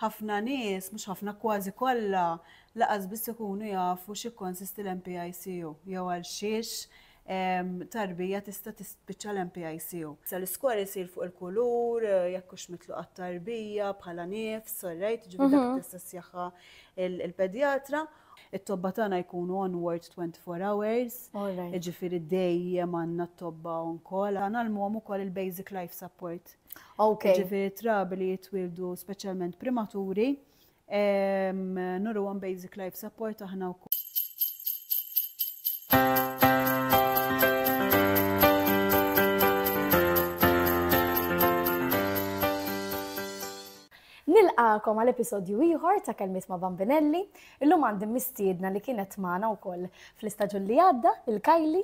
Ħafna nies, mhux ħafna, kważi kollha, laqas biss ikunu jafu x'jikkonsisti l-NPICU jew għal xiex tarbija tista' tispiċċa l-NPICU. L-iskor isir fuq il-kulur, jekk hux mitluq għat-tarbija bħala nifs, orrejt, ġifieri dak li tista' ssjahha l-pedjatra. It-tobba tagħna jkunu on ward 24 hours, jiġifieri dejjem għandna t-tobba on call. Nagħlmuhom ukoll il-basic life support. Okay. Ġifiri trabi li jitwildu specialment primaturi, nuru għan basic life support aħna u Nilqakom għal episodju ieħor ta' kelmiet ma' Bambinelli. Illum għandi mistiedna li kienet magħna wkoll fl-istaġun li għadda, il-Kajli,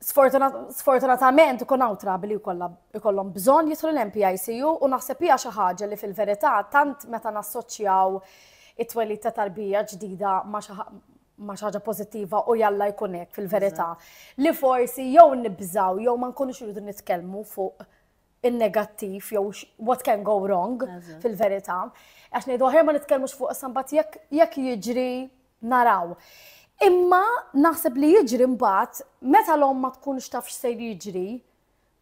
Sfortunatament ikun hawn trabi li jkollhom bżonn jidħlu l-MPICU u naħseb hija xi ħaġa li fil-verità tant meta nassoċjaw it-twelid ta' tarbija ġdida ma' ma xaġa pozittiva u jalla jkun hekk fil-verità. Li forsi jew nibżaw jew ma nkunux irridu nitkellmu fuq in-negattiv jew what can go wrong fil-verità. Għax ngħidu aħjar ma nitkellmux fuq sambat jekk jiġri naraw. Imma naħseb li jiġri mbagħad meta l-om ma tkunx taf x'sejr jiġri,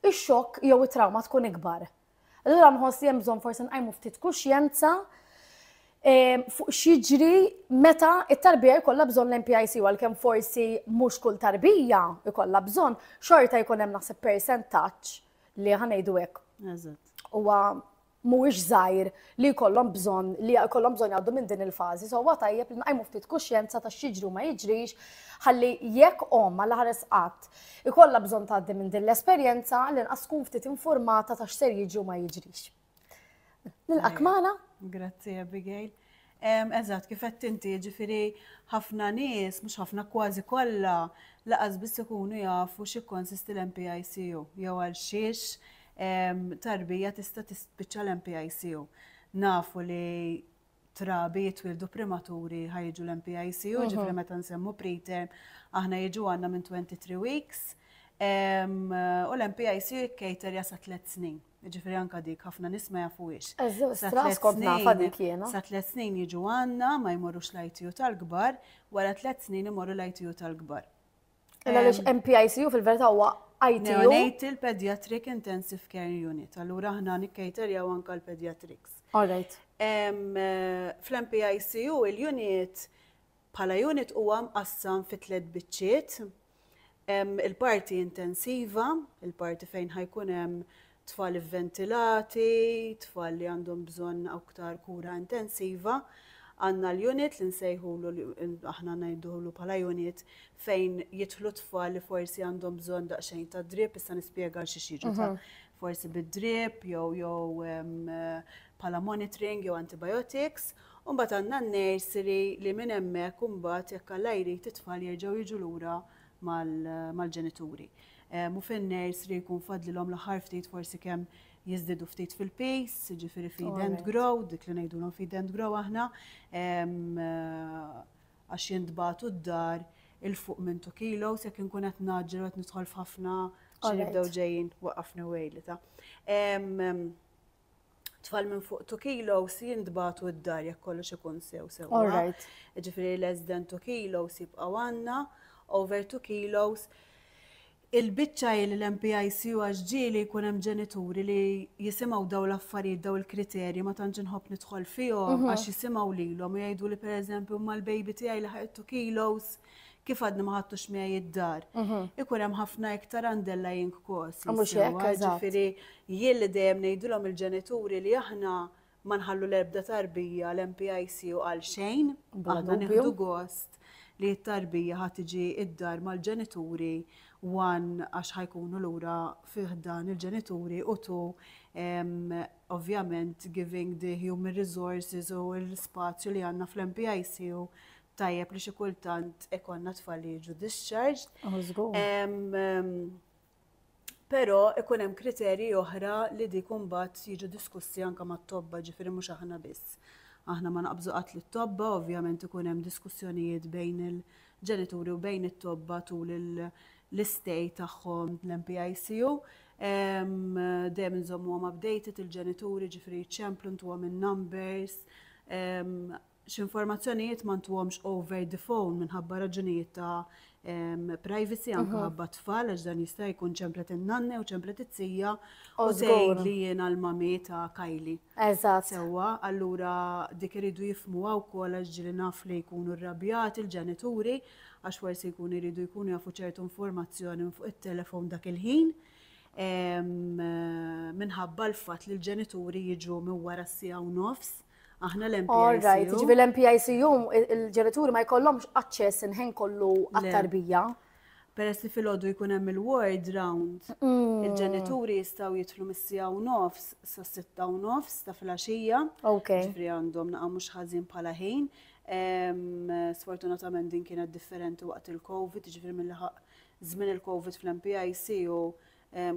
ix-xokk jew it-trawma tkun ikbar. Allura nħoss li hemm bżonn forsi nqajmu ftit kuxjenza eh, fuq x'jiġri meta it-tarbija jkollha bżonn l-MPIC għalkemm forsi mhux kull tarbija jkollha bżonn, xorta jkun hemm naħseb percentaġġ li ħa ngħidu hekk. Huwa mhuwiex żgħir li jkollhom bżonn li jkollhom bżonn jgħaddu minn din il-fażi, so huwa tajjeb li nqajmu ftit kuxjenza ta' x'jiġri u ma jiġrix ħalli jekk omm għal ħares qatt ikollha bżonn tgħaddi minn din l-esperjenza li nqas tkun ftit informata ta' x'ser jiġri u ma jiġrix. Nilqak magħna. Grazzi Abigail. Eżatt, kif qed inti ġifieri ħafna nies, mhux ħafna kważi kollha, laqas biss ikunu jafu xi konsisti l-MPICU jew għal xiex tarbija tista' tispiċċa l-MPICU. Nafu li trabi jitwildu primaturi ħa jiġu l-MPICU, ġifri meta nsemmu preterm, aħna jiġu għanna minn 23 weeks, u l-MPICU jikkejter jasa 3 snin. Ġifri anka dik ħafna nisma jafu ix. Sa 3 snin jiġu għanna, ma jmorrux l-ITU tal-gbar, wara 3 snin imorru l-ITU tal-gbar. Illa li MPICU fil-verità huwa ITU. Neonatal Pediatric Intensive Care Unit. Allura aħna nikkaterjaw anka l-pediatrics. All right. Fl-MPICU il-unit bħala unit huwa mqassam fi tliet biċċiet. Il-parti intensiva, il-parti fejn ħajkun hemm tfal ivventilati, tfal li għandhom bżonn aktar kura intensiva, għandna l-unit li nsejħulu aħna ngħidulu bħala unit fejn jidħlu tfal li forsi għandhom bżonn daqsxejn ta' drip, issa nispjega xi xiġu ta' mhm. forsi bid-drip jew jew bħala monitoring jew antibiotics. Umbat għandna n-nursery li minn hemmhekk umbat jekk alla jrid it-tfal jerġgħu jiġu lura mal-ġenituri. u fin-nursery jkun fadlilhom l-aħħar ftit forsi kemm jiżdiedu ftit fil-pace, jiġifieri feed and grow, dik li ngħidulhom feed and grow aħna, għax jintbagħtu d-dar 'il fuq minn two kilos, jekk inkun qed ngħaġġel u qed nidħol f'ħafna, ġieli jibdew ġejjin, waqqafni u għidli ta'. tfal minn fuq 2 kilos jintbatu id-dar jekk kollox ikun sew sew. All right. Ġifieri less than 2 kilos jibqgħu għandna, over 2 kilos il-biċċa hi li l-MPICU għax ġieli jkun hemm ġenituri li jisimgħu dawn l-affarijiet dawn il-kriterji ma tantx inħobb nidħol fihom għax jisimgħu lilhom u jgħidu li pereżempju imma l-baby tiegħi laħaq 2 kilos kif għadni ma ħadtux miegħi id-dar, mhm. ikun hemm ħafna iktar underlying cause. Ah, mhux hekk, ġifieri jien li dejjem ngħidulhom il-ġenituri li aħna ma nħallu l-erbda tarbija l-MPIC u għal xejn, aħna nieħdu gost li t-tarbija ħad tiġi id-dar mal-ġenituri wan għax ħajkunu lura fih dan il-ġenituri u tu ovvjament giving the human resources u l-spazju li għanna fl-MPIC u tajjeb li xi kultant ikonna tfal li jiġu discharged. Oh, żgur. Però ikun hemm kriterji oħra li dik imbagħad jiġu diskussi anke mat-tobba ġifieri mhux aħna biss. Aħna ma naqbżu qatt li tobba ovvjament ikun hemm diskussjonijiet bejn il-ġenituri u bejn it-tobba tul l-istej tagħhom l-MPICU. Dejjem inżommuhom updated il-ġenituri ġifieri ċemplu ntuhom in-numbers x'informazzjonijiet ma ntuhomx over the phone minħabba raġunijiet ta' privacy anke mhm. ħabba tfal għax dan jista' jkun ċemplet in-nanne u ċemplet it-tija u tgħid li jiena l-mami ta' Kajli. Eżatt. Sewwa, allura dik iridu jifmuha wkoll għax ġili naf li jkunu rrabjati l-ġenituri għax forsi jkun iridu jkunu jafu ċertu informazzjoni fuq it-telefon dak il-ħin minħabba l-fatt li l-ġenituri jiġu minn wara s-sija u nofs Aħna l-MPICU. All right, jiġifieri l-MPICU il-ġenituri ma jkollhomx aċċess inħin kollu għat-tarbija. Peress li fil-ħodu jkun hemm il-ward round, il-ġenituri jistgħu jidħlu mis-sija u nofs sa sitta u nofs ta' filgħaxija. Ok. Ġifri għandhom naqa' mhux ħażin bħala ħin. Sfortunatament din kienet differenti waqt il-COVID, ġifri mill-ħaq żmien il-COVID fl-MPIC u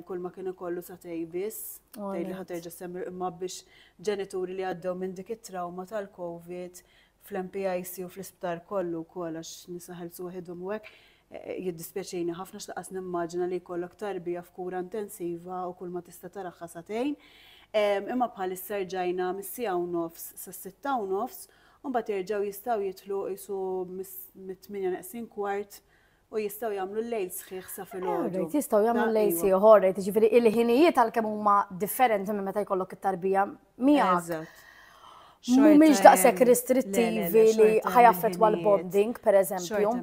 kull ma kien ikollu sa tej biss, tej li ħaterġa semmi imma biex ġenituri li għaddew minn dik it-trauma tal-Covid fl-MPIC u fl-isptar kollu wkoll għax nisaħel suħidhom u hekk eh, jiddispjaċini ħafna x'laqas nimmaġina li jkollok tarbija f'kura intensiva u kull ma tista' taraħħa satejn. Imma bħal ġajna mis-sija u nofs sa sitta u nofs, u mbagħad jerġgħu jistgħu jitlu isu mit-8 neqsin kwart U jistgħu jagħmlu l-lejl sħiħ sa filgħodu. Right, jistgħu jagħmlu l-lejl sħiħ, all right, jiġifieri il-ħinijiet għalkemm huma differenti minn meta jkollok it-tarbija miegħek. Mhumiex daqshekk restrittivi li ħajaffettwa l-bonding, pereżempju.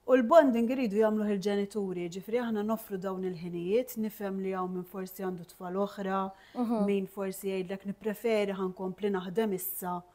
U l-bonding iridu jagħmlu il-ġenituri, ġifri aħna nofru dawn il-ħinijiet, nifhem li hawn minn forsi għandu tfal oħra, mhm. min forsi jgħidlek nippreferi ħankompli naħdem issa. Mm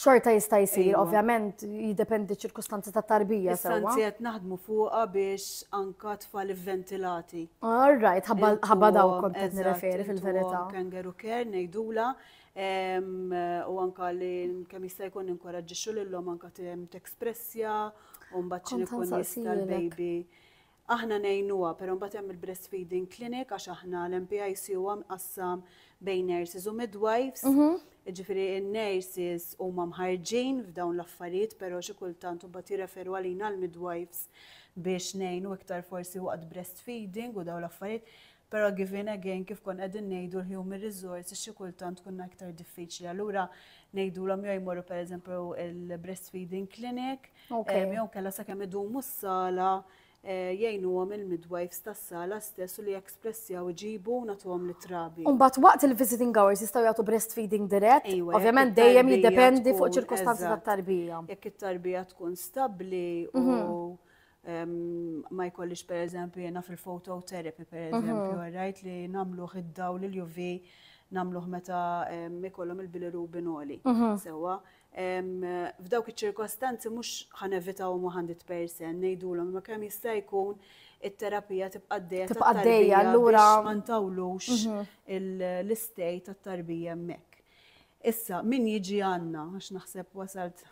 Xorta jista' jsir, Ejwa. ovvjament jiddependi ċ-ċirkustanzi ta' tarbija Issa sewwa. anzi qed naħdmu fuqha biex anka tfal ivventilati. All right, ħabba Intu ħabba daw għom- kont qed eżatt, nirreferi intu fil-verità. għom Kangaroo care ngħidula em, u anka li kemm jista' jkun ninkoraġġixxu lilhom anka tem tekspressja u mbagħad xi Kont ikun jista' ħansaqsijilek. l-baby Aħna ngħinuha, però mbagħad hemm il-breastfeeding clinic għax aħna l-MPIC huwa mqassam bejn nurses u midwives. Jiġifieri n-nurses huma mħarrġin f'dawn l-affarijiet, però xi kultant imbagħad jirreferu għalina l-midwives biex ngħinu iktar forsi waqt breastfeeding u dawn l-affarijiet. Però given again kif konna qegħdin ngħidu l-human resources xi kultant tkun iktar diffiċli. Allura ngħidulhom jew jmorru pereżempju il-breastfeeding clinic, ehm, jew kellha sakemm idumu s-sala Eh, jgħinuhom il-midwives tas-sala stess u li ekspressjaw iġibu nagħtuhom li trabi. Umbat waqt il-visiting hours jistgħu jagħtu breastfeeding dirett, ovvjament dejjem jiddependi fuq ċirkostanzi tat-tarbija. Jekk it-tarbija tkun stabbli u mhm. ma jkollix per eżempju jena fil-phototherapy per mhm. eżempju, għarrajt li namluħ id-daw li l-UV namluħ meta ikollhom il-bilirubin oli. Mhm. Sewa, f'dawk iċ-ċirkostanzi mhux ħanevitaw ma ħandit persen ngħidulhom ma kemm jista' jkun it-terapija tibqa' d-dejja. Tibqa' d-dejja allura ma ntawlux mhm. l-istej tat-tarbija hemmhekk. Issa, min jiġi għanna, għax naħseb wasalt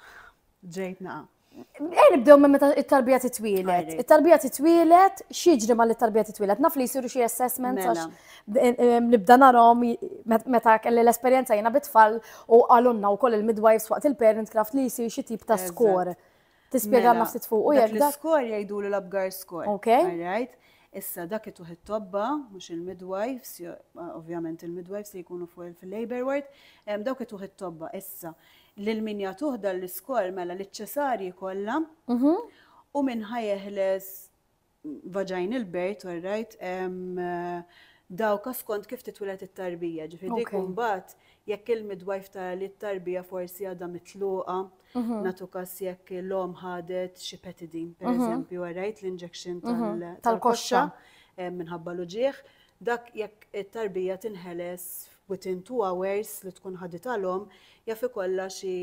ġejt naqa. Ejn nibdew minn meta it-tarbija titwielet. It-tarbija titwielet, xieġri ma li tarbija titwielet. Naf li jisiru xi assessments mela. għax nibda narhom meta kelli l-esperjenza jiena bitfall u għalunna wkoll il-midwives waqt il-parent craft li jsir xi tip ta' skor. Tispjega mela, nafsit fuq u jekk. L-skor jgħidu li l-abgar skor. Ok. Issa dak it it-tobba, mhux il-midwives, ovvjament il-midwives li jkunu fuq il-labor ward, dawk it it-tobba. Issa, Lil min jagħtuh dan l-iskor, mela liċ-Ċesarji kollha, u min ħa jeħles vaginal birth, all right, dawka skont kif titwilet it-tarbija, ġifieri dik imbagħad jekk il-midwife tara li t-tarbija forsi għadha mitluqa, nagħtu każ jekk l-omm ħadet xi petidin, pereżempju, all right, l-injection tal-koxxa minħabba l-uġigħ, dak jekk it-tarbija tinħeles within two hours li tkun ħaditha l-omm jaf ikollha xi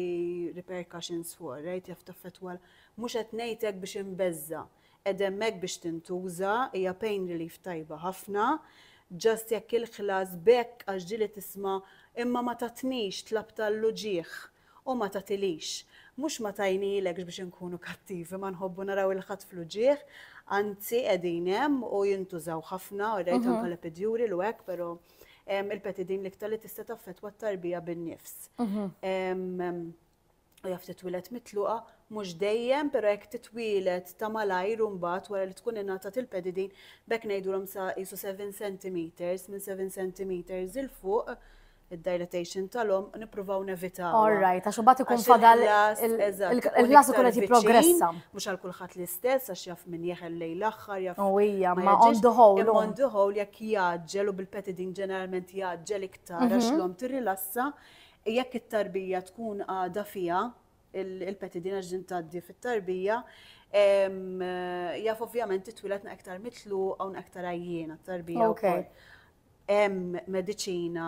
repercussions fuqha, right? Jaf taffettwa Mhux qed ngħid hekk biex inbeżża'. Qegħda hemmhekk biex tintuża, hija pain relief tajba ħafna. Just jekk il-ħlas b'hekk għax ġieli tisma' Imma ma tatnix, tlabt għall-uġigħ u ma tagħtilix. Mhux ma tajnilekx biex inkunu kattivi, ma nħobbu naraw il-ħadd fl-uġigħ, anzi qegħdin hemm u jintużaw ħafna, alright, anke l-epiduril u hekk, però. il-peti din l-iktar li tista' taffettwa t-tarbija bin-nifs. U jaf titwilet mitluqa, mhux dejjem, però jekk titwilet ta' malajr u mbagħad wara li tkun ingħatat il-pedi din, bekk ngħidulhom sa qisu 7 centimeters, minn 7 centimeters il fuq, id-dilatation tal-omm nippruvaw nevitaw. All right, għax imbagħad ikun fadal il-klass ikun qed jipprogressa. Mhux għal kulħadd l-istess għax jaf min jeħel lejla ħarja f'. U hija ma on the whole. Imma on the whole jekk jgħaġġel u bil-petidin ġeneralment jgħaġġel iktar għax l-omm tirrilassa, jekk it-tarbija tkun għadha fiha, il-petidin għax din tgħaddi fit-tarbija, jaf ovvjament titwieled na iktar mitluqa u iktar għajjiena t-tarbija wkoll. Hemm mediċina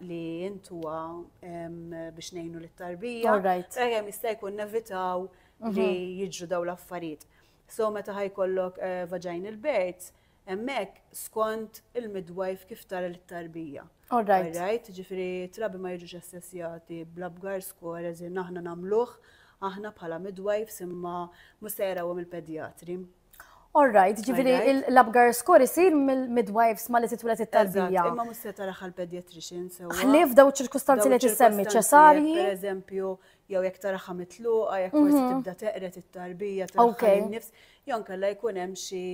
li jintuha biex ngħinu lit-tarbija. All right. Sakemm jista' jkun nevitaw li jiġru dawn l-affarijiet. So meta ħa jkollok vaginal birth, hemmhekk skont il-midwife kif tara lit-tarbija. All right. All right, ġifieri trabi ma jiġux assessjati bl-Apgar score as in aħna nagħmluh aħna bħala midwives imma mhux se jarawhom il-pedjatri. All right, ġifiri l-abgar skor isir mill-midwives ma li titwilet it-tarbija. Imma mus se taraħ għal-pediatrician sewa. Ħlif daw ċirkustanzi li tissemmi ċesarji. Per eżempju, jew jekk taraha mitluqa, jekk forsi mhm. tibda teqret it-tarbija, taraha nifs jew nkella jkun hemm xi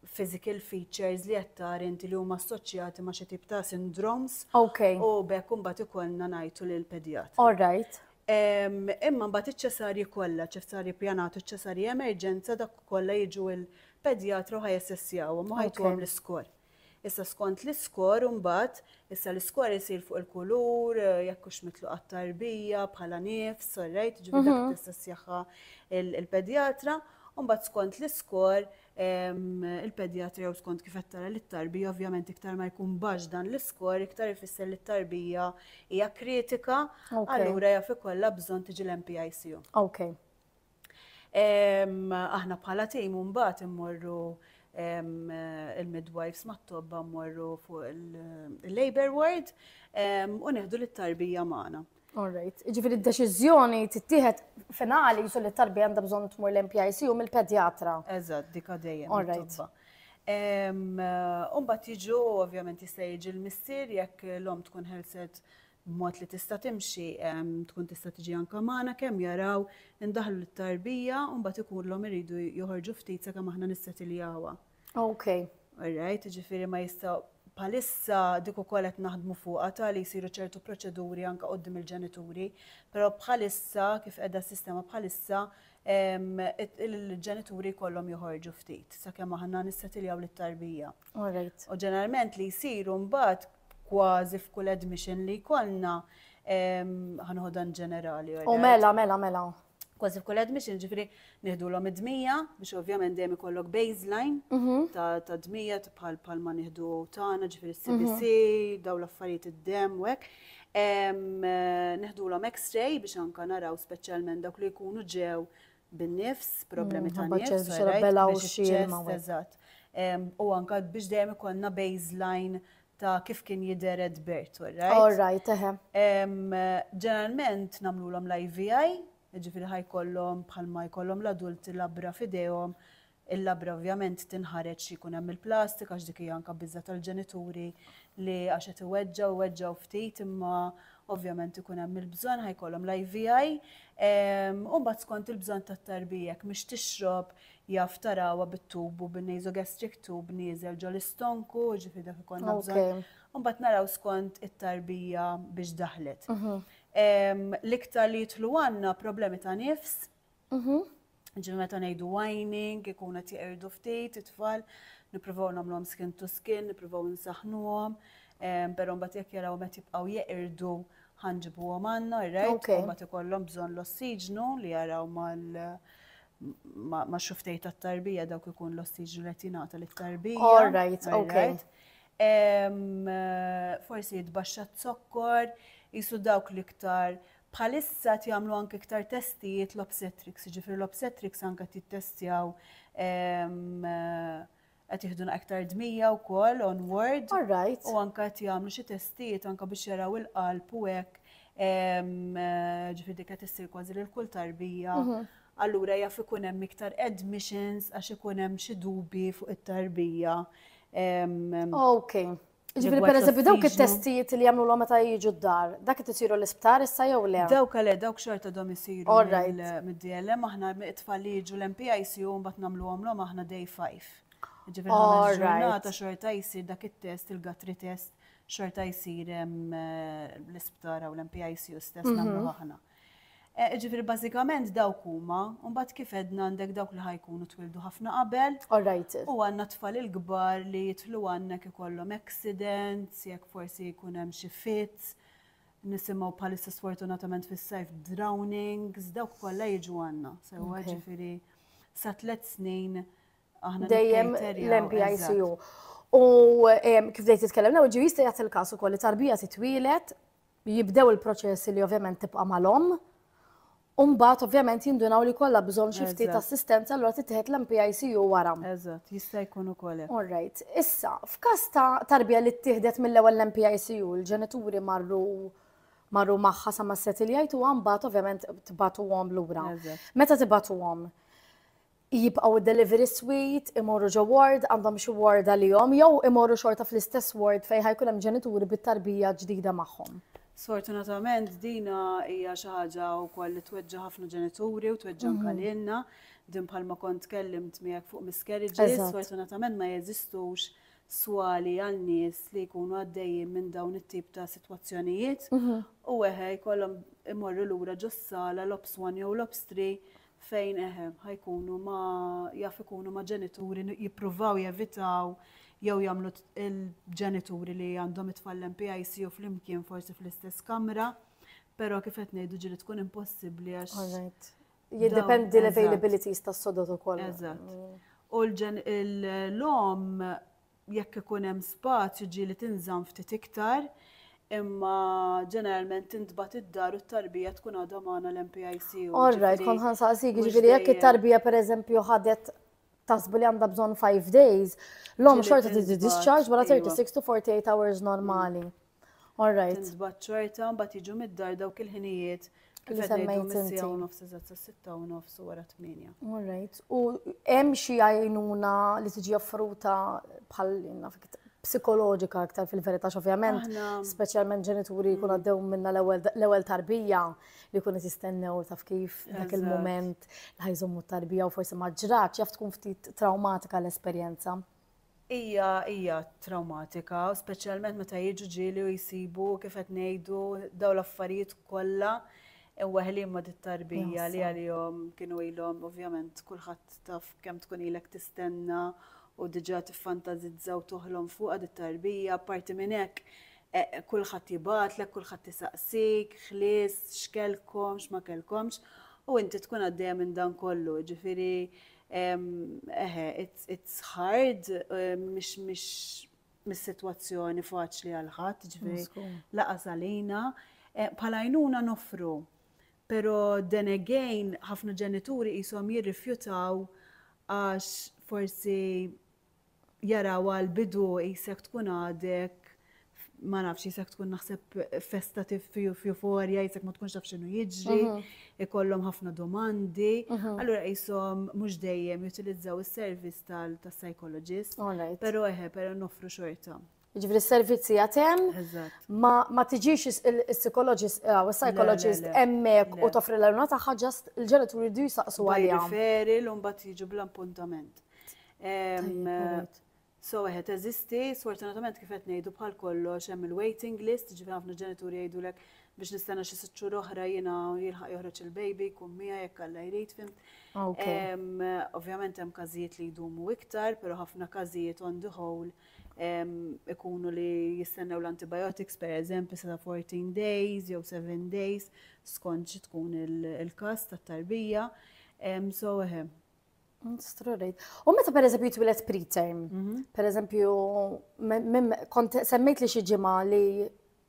physical features li qed tara inti li huma assoċjati ma' xi tip ta' syndromes. Ok. U bekk imbagħad ikollna ngħidu lil pedjat. All right. Imma mbagħad iċ-ċesarji kollha, ċesarji pjanat u ċesarji emerġenza dak kollha jiġu il-pedjatra u ħajessessjawhom u ħajtuhom l-iskor. Issa skont l-iskor imbagħad, issa l-iskor isir fuq il-kulur, jekk hux mitluq għat-tarbija bħala nifs, orrejt, ġifieri dak tista' ssieħħha l-pedjatra, u mbagħad skont l-iskor il-pedjatra jew skont kif qed tara li t-tarbija ovvjament iktar ma jkun baxx dan l-iskor iktar ifisser li t-tarbija hija kritika, allura jaf ikollha bżonn tiġi l-NPICU. Okay. Aħna bħala tim mbagħad immorru il-midwives mat-tobba mmorru fuq il-labor ward u neħdu lit-tarbija magħna. All right. Ġifieri d-deċiżjoni tittieħed finali jisu li t-tarbija għandha bżonn tmur l-MPIC u mill-pedjatra. Eżatt, dik għaddejja. All right. Umbagħad jiġu ovvjament jista' jiġi l-missier jekk l-omm tkun ħelset b'mod li tista' timxi, tkun tista' tiġi anke magħna, kemm jaraw li ndaħlu lit-tarbija u mbagħad ikollhom iridu joħorġu ftit sakemm aħna nissetiljawha. Ok. Alright, jiġifieri ma jistgħu bħalissa dik ukoll qed naħdmu fuqha ta' li jsiru ċertu proċeduri anke quddiem il-ġenituri, però bħalissa kif qiegħda s-sistema bħalissa il-ġenituri jkollhom joħorġu ftit sakemm aħna nissetiljaw lit-tarbija. U ġeneralment li jsiru mbagħad kważi f'kull admission li jkollna ħanħodan ġenerali. U mela, mela, mela. Kważi f'kull admission ġifri nieħdulhom id-dmija biex ovvjament dejjem ikollok baseline mhm. ta' dmija bħal bħal ma nieħdu tagħna ġifri CBC, mhm. daw l-affarijiet id-dem u hekk. Nieħdulhom X-ray biex anka naraw speċjalment dawk li jkunu ġew bin-nifs, problemi ta' Ħabba ċess biex rabbela u xxir ma' wieħed. Eżatt. Em, U anka biex dejjem ikollna baseline ta' kif kien jidher at birth, all right? All right, eħe. Em, Ġeneralment nagħmlulhom l-IVI, jiġifieri ħajkollhom bħalma jkollhom l-adulti labra f'idejhom Il-labra ovvjament tinħareġ xi jkun hemm il-plastik għax dik hija anke biża' tal-ġenituri li għax qed iweġġgħu, iweġġgħu ftit imma ovvjament ikun hemm il-bżonn ħa jkollhom l-IVI. U mbagħad skont il-bżonn tat-tarbija jekk mhix tixrob jaf tarawha bit-tub u bin-nasogastric tube nieżel ġol-istonku, jiġifieri dak ikollna bżonn. U mbagħad naraw skont it-tarbija biex daħlet. L-iktar li jidħlu għandna problemi ta' nifs, Mhm. Ġifieri meta ngħidu whining, ikun qed jeqirdu ftit it-tfal, nippruvaw nagħmluhom skin to skin, nippruvaw insaħħnuhom, em, però mbagħad jekk jarawhom qed jibqgħu jeqirdu ħa nġibuhom għandna, right? Ok. U mbagħad ikollhom bżonn l-ossiġnu li jaraw mal ma' ma' xuftej tat-tarbija dawk ikun l-ossiġnu li qed jingħata lit-tarbija. All right, all ok. right? Em, eh, Forsi jitbaxxa z-zokkor, jisu dawk l-iktar Bħalissa qed jagħmlu anke iktar testijiet l-obstetrics, jiġifieri l-obstetrics anke qed jittestjaw qed jieħdu iktar dmija wkoll onward. All right. U anke qed jagħmlu xi testijiet anke biex jaraw il-qalb u hekk ġifieri qed issir kważi lil kull tarbija. Mhm. Allura jaf ikun hemm iktar admissions għax ikun hemm xi dubi fuq it-tarbija. Okay. Ġifiri, per eżempju, dawk it-testijiet li jagħmlu l meta jiġu d-dar, dak qed isiru l-isptar issa jew le? Dawk le, dawk xorta dom isiru mid-DLM aħna it-tfal li jiġu l-MPIC u mbagħad nagħmluhom l aħna day 5. Ġifiri, aħna ġurnata xorta jsir dak it-test, il-gatri test, xorta jsir eh, l-isptar u l-MPIC u stess mhm. nagħmlu aħna. Jiġifieri bażikament dawk huma, u mbagħad kif għedna għandek dawk li ħa jkunu twildu ħafna qabel, u għandna t-tfal il-kbar li jidħlu għandnek ikollhom accidents, jekk forsi jkun hemm xi fits, nisimgħu bħalissa sfortunatament fis-sajf drownings, dawk kollha jiġu għandna. Sewwa ġifieri sa tliet snin aħna dejjem l-MPICU. U kif dejt titkellem l-ewwel ġie jista' jagħti l-każ ukoll li tarbija titwielet jibdew il-proċessi li ovvjament tibqa' mal-omm, u mbagħad ovvjament jindunaw li kollha bżonn xi ftit Eżatt. assistenza allura titieħed l-MPICU wara. Eżatt, jista' jkun ukoll hekk. All right. Issa, f'każ ta' tarbija li ttieħdet mill-ewwel l-MPICU, il-ġenituri marru marru magħha sa ma settled u mbagħad ovvjament tbagħtuhom lura. Eżatt. Meta tibagħtuhom, jibqgħu d-delivery suite, imorru ġo ward, għandhom xi ward għalihom, jew imorru xorta fl-istess ward fejn ħa jkun hemm ġenituri bit-tarbija ġdida magħhom. Sfortunatament dina hija xi ħaġa wkoll li tweġġa' ħafna ġenituri u tweġġa' anke mhm. lilna. Din bħalma kont tkellimt miegħek fuq miscarriages, sfortunatament ma jeżistux swali għal nies li jkunu għaddejjin minn dawn it-tip ta' sitwazzjonijiet mhm. u eħe jkollhom imorru lura ġossala l-ops 1 jew l-ops 3 fejn eħe, ħajkunu ma jaf ikunu ma ġenituri jippruvaw jevitaw jew jagħmlu il-ġenituri li għandhom it-tfal MPIC u flimkien forsi fl-istess kamra, però kif qed ngħidu ġili tkun impossibbli għax. Jiddependi l-availabilities tas-sodot ukoll. Eżatt. Mm. U l-lom Jekk ikun hemm spazju ġieli tinżamm ftit iktar, imma ġeneralment tintbagħat id-dar u t-tarbija tkun għadha magħna l-MPIC u All right, jiġifieri kont ħansaqsik, mhux jiġifieri jekk dejjem. it-tarbija pereżempju ħadet taħsbu li għandha bżonn five days, l-omm Ġieli xorta titli tintbagħat, discharge wara iva. 36 to 48 hours normali. All right. Tinsbat xorta, mbagħad jiġu mid-dar dawk il-ħinijiet kif qed ngħidu mis-sija u nofs iżgħat sas-sitta u nofs u wara tmienja. All right. U hemm xi għajnuna li tiġi offruta bħal naf psikoloġika aktar fil-verità ovvjament, speċjalment ġenituri jkun mm. għaddew minna l-ewwel tarbija li jkun qed jistennew taf kif dak il-mument li ħajżommu tarbija u forsi ma ġrax jaf tkun ftit traumatika l-esperjenza. Hija hija trawmatika, speċjalment meta jiġu ġieli u jsibu kif qed ngħidu dawn l-affarijiet kollha imweħħlin ma' dit-tarbija li għalihom kienu ilhom ovvjament kulħadd taf kemm tkun ilek tistenna u diġà tiffantasizza u toħlom fuqha dit-tarbija. Apparti minn hekk kulħadd jibgħatlek, kulħadd isaqsik, ħlies, x'kellkom, x'ma kellkomx u inti tkun għaddejja minn dan kollu. Jiġifieri Eħe, it's hard, mhix mis-sitwazzjoni faċli għal ħadd, ġifieri laqas għalina. Bħala għajnuna noffru, però then again ħafna ġenituri qishom jirrifjutaw għax forsi jarawha l-bidu qisek tkun għadek ma nafx jisek tkun naħseb festa f'euforja, jisek ma tkunx taf xinu jiġri, ikollhom ħafna domandi. Allura jisom mhux dejjem jutilizzaw is-servizz tal-psychologist. Pero eħe, pero noffru xorta. Ġifri s-servizzi għatem, ma tiġix il-psikologist, għaw, il-psikologist emmek u toffri l-għaluna taħħa ġast il-ġenituri du jisaqsu għalija. Referi l-umbat jiġu bl-appuntament. So, għet, eżisti, sfortunatament kif qed ngħidu bħal kollox hemm il-waiting list, ġifri ħafna ġenituri jgħidulek biex nistana xi sitt xhur oħra jiena jilħaq joħroġ il-baby kum mija jekk alla jrid fim. Ovvjament hemm każijiet li jdumu iktar, però ħafna każijiet on the whole ikunu li jistennew l-antibiotics per eżempju sa 14 days jew 7 days skont xi tkun il-każ tat-tarbija. So eħe. U meta per eżempju jitwilet preterm, mhm. per eżempju, kont semmejt li xi ġimgħa li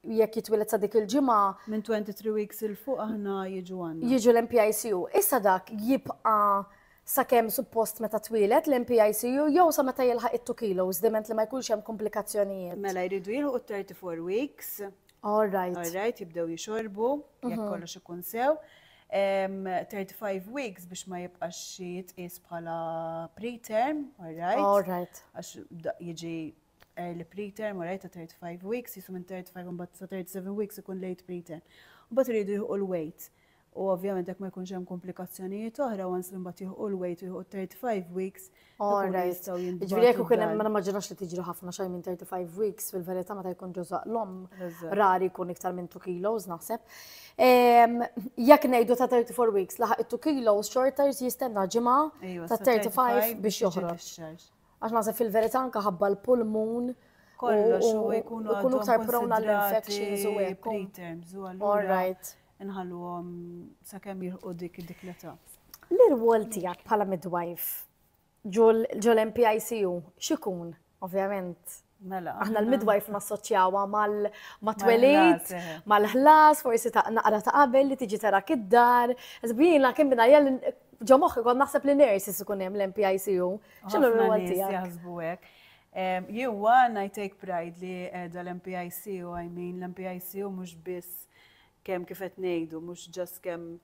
jekk jitwieled sa dik il-ġimgħa. Minn 23 weeks il fuq aħna jiġu għandna. Jiġu l-MPICU. Issa dak jibqa' sakemm suppost meta twieled l-MPICU jew sa meta jilħaq it-2 kilos diment li ma jkunx hemm komplikazzjonijiet. Mela jridu jilħu 34 weeks. All right. All right, jibdew jixorbu, jekk mhm. kollox ikun sew. 35 weeks biex ma jibqax xi jitqies bħala preterm, all right. All right. Għax jiġi early preterm, u rajta 35 weeks, jisu minn 35 un bat sa 37 weeks ikun late preterm. U bat rridu jħu l-weight. U ovvjament jekk ma jkunx hemm komplikazzjonijiet oħra, once li mbagħad jħu l-weight u jħu 35 weeks, ikunu jistgħu jindu. Ġifieri jekk ikun hemm ma ġrax li tiġri ħafna xejn minn 35 weeks, fil-verità meta jkun ġożaq l-om, rari jkun iktar minn 2 kilos naħseb. Ehm, jekk ngħidu ta' 34 weeks laħaq 2 kilos, xorta jistenna ġimgħa ta' 35 biex joħroġ. Għax naħseb fil-verità anke ħabba l-pulmun kollox u jkunu jkunu aktar prone għal infections u hekk. Preterms u allura nħalluhom sakemm jilħqu dik dik l-età. L-irwol tiegħek bħala midwife ġol MPICU x'ikun? Ovvjament Mela. Aħna l-midwife nassoċjawha mal-twelid, mal-ħlas, forsi ta' naqra ta' qabel li tiġi tara kid-dar. Żbina kemm minn jell ġo moħħi kont naħseb li nurses ikun hemm l-MPICU. X'inhu l-rwol tiegħek? Jaħsbu hekk. Jewa, I take pride li edha l-MPIC u I mean l-MPIC u mux biss Kemm kif qed ngħidu, mhux just kemm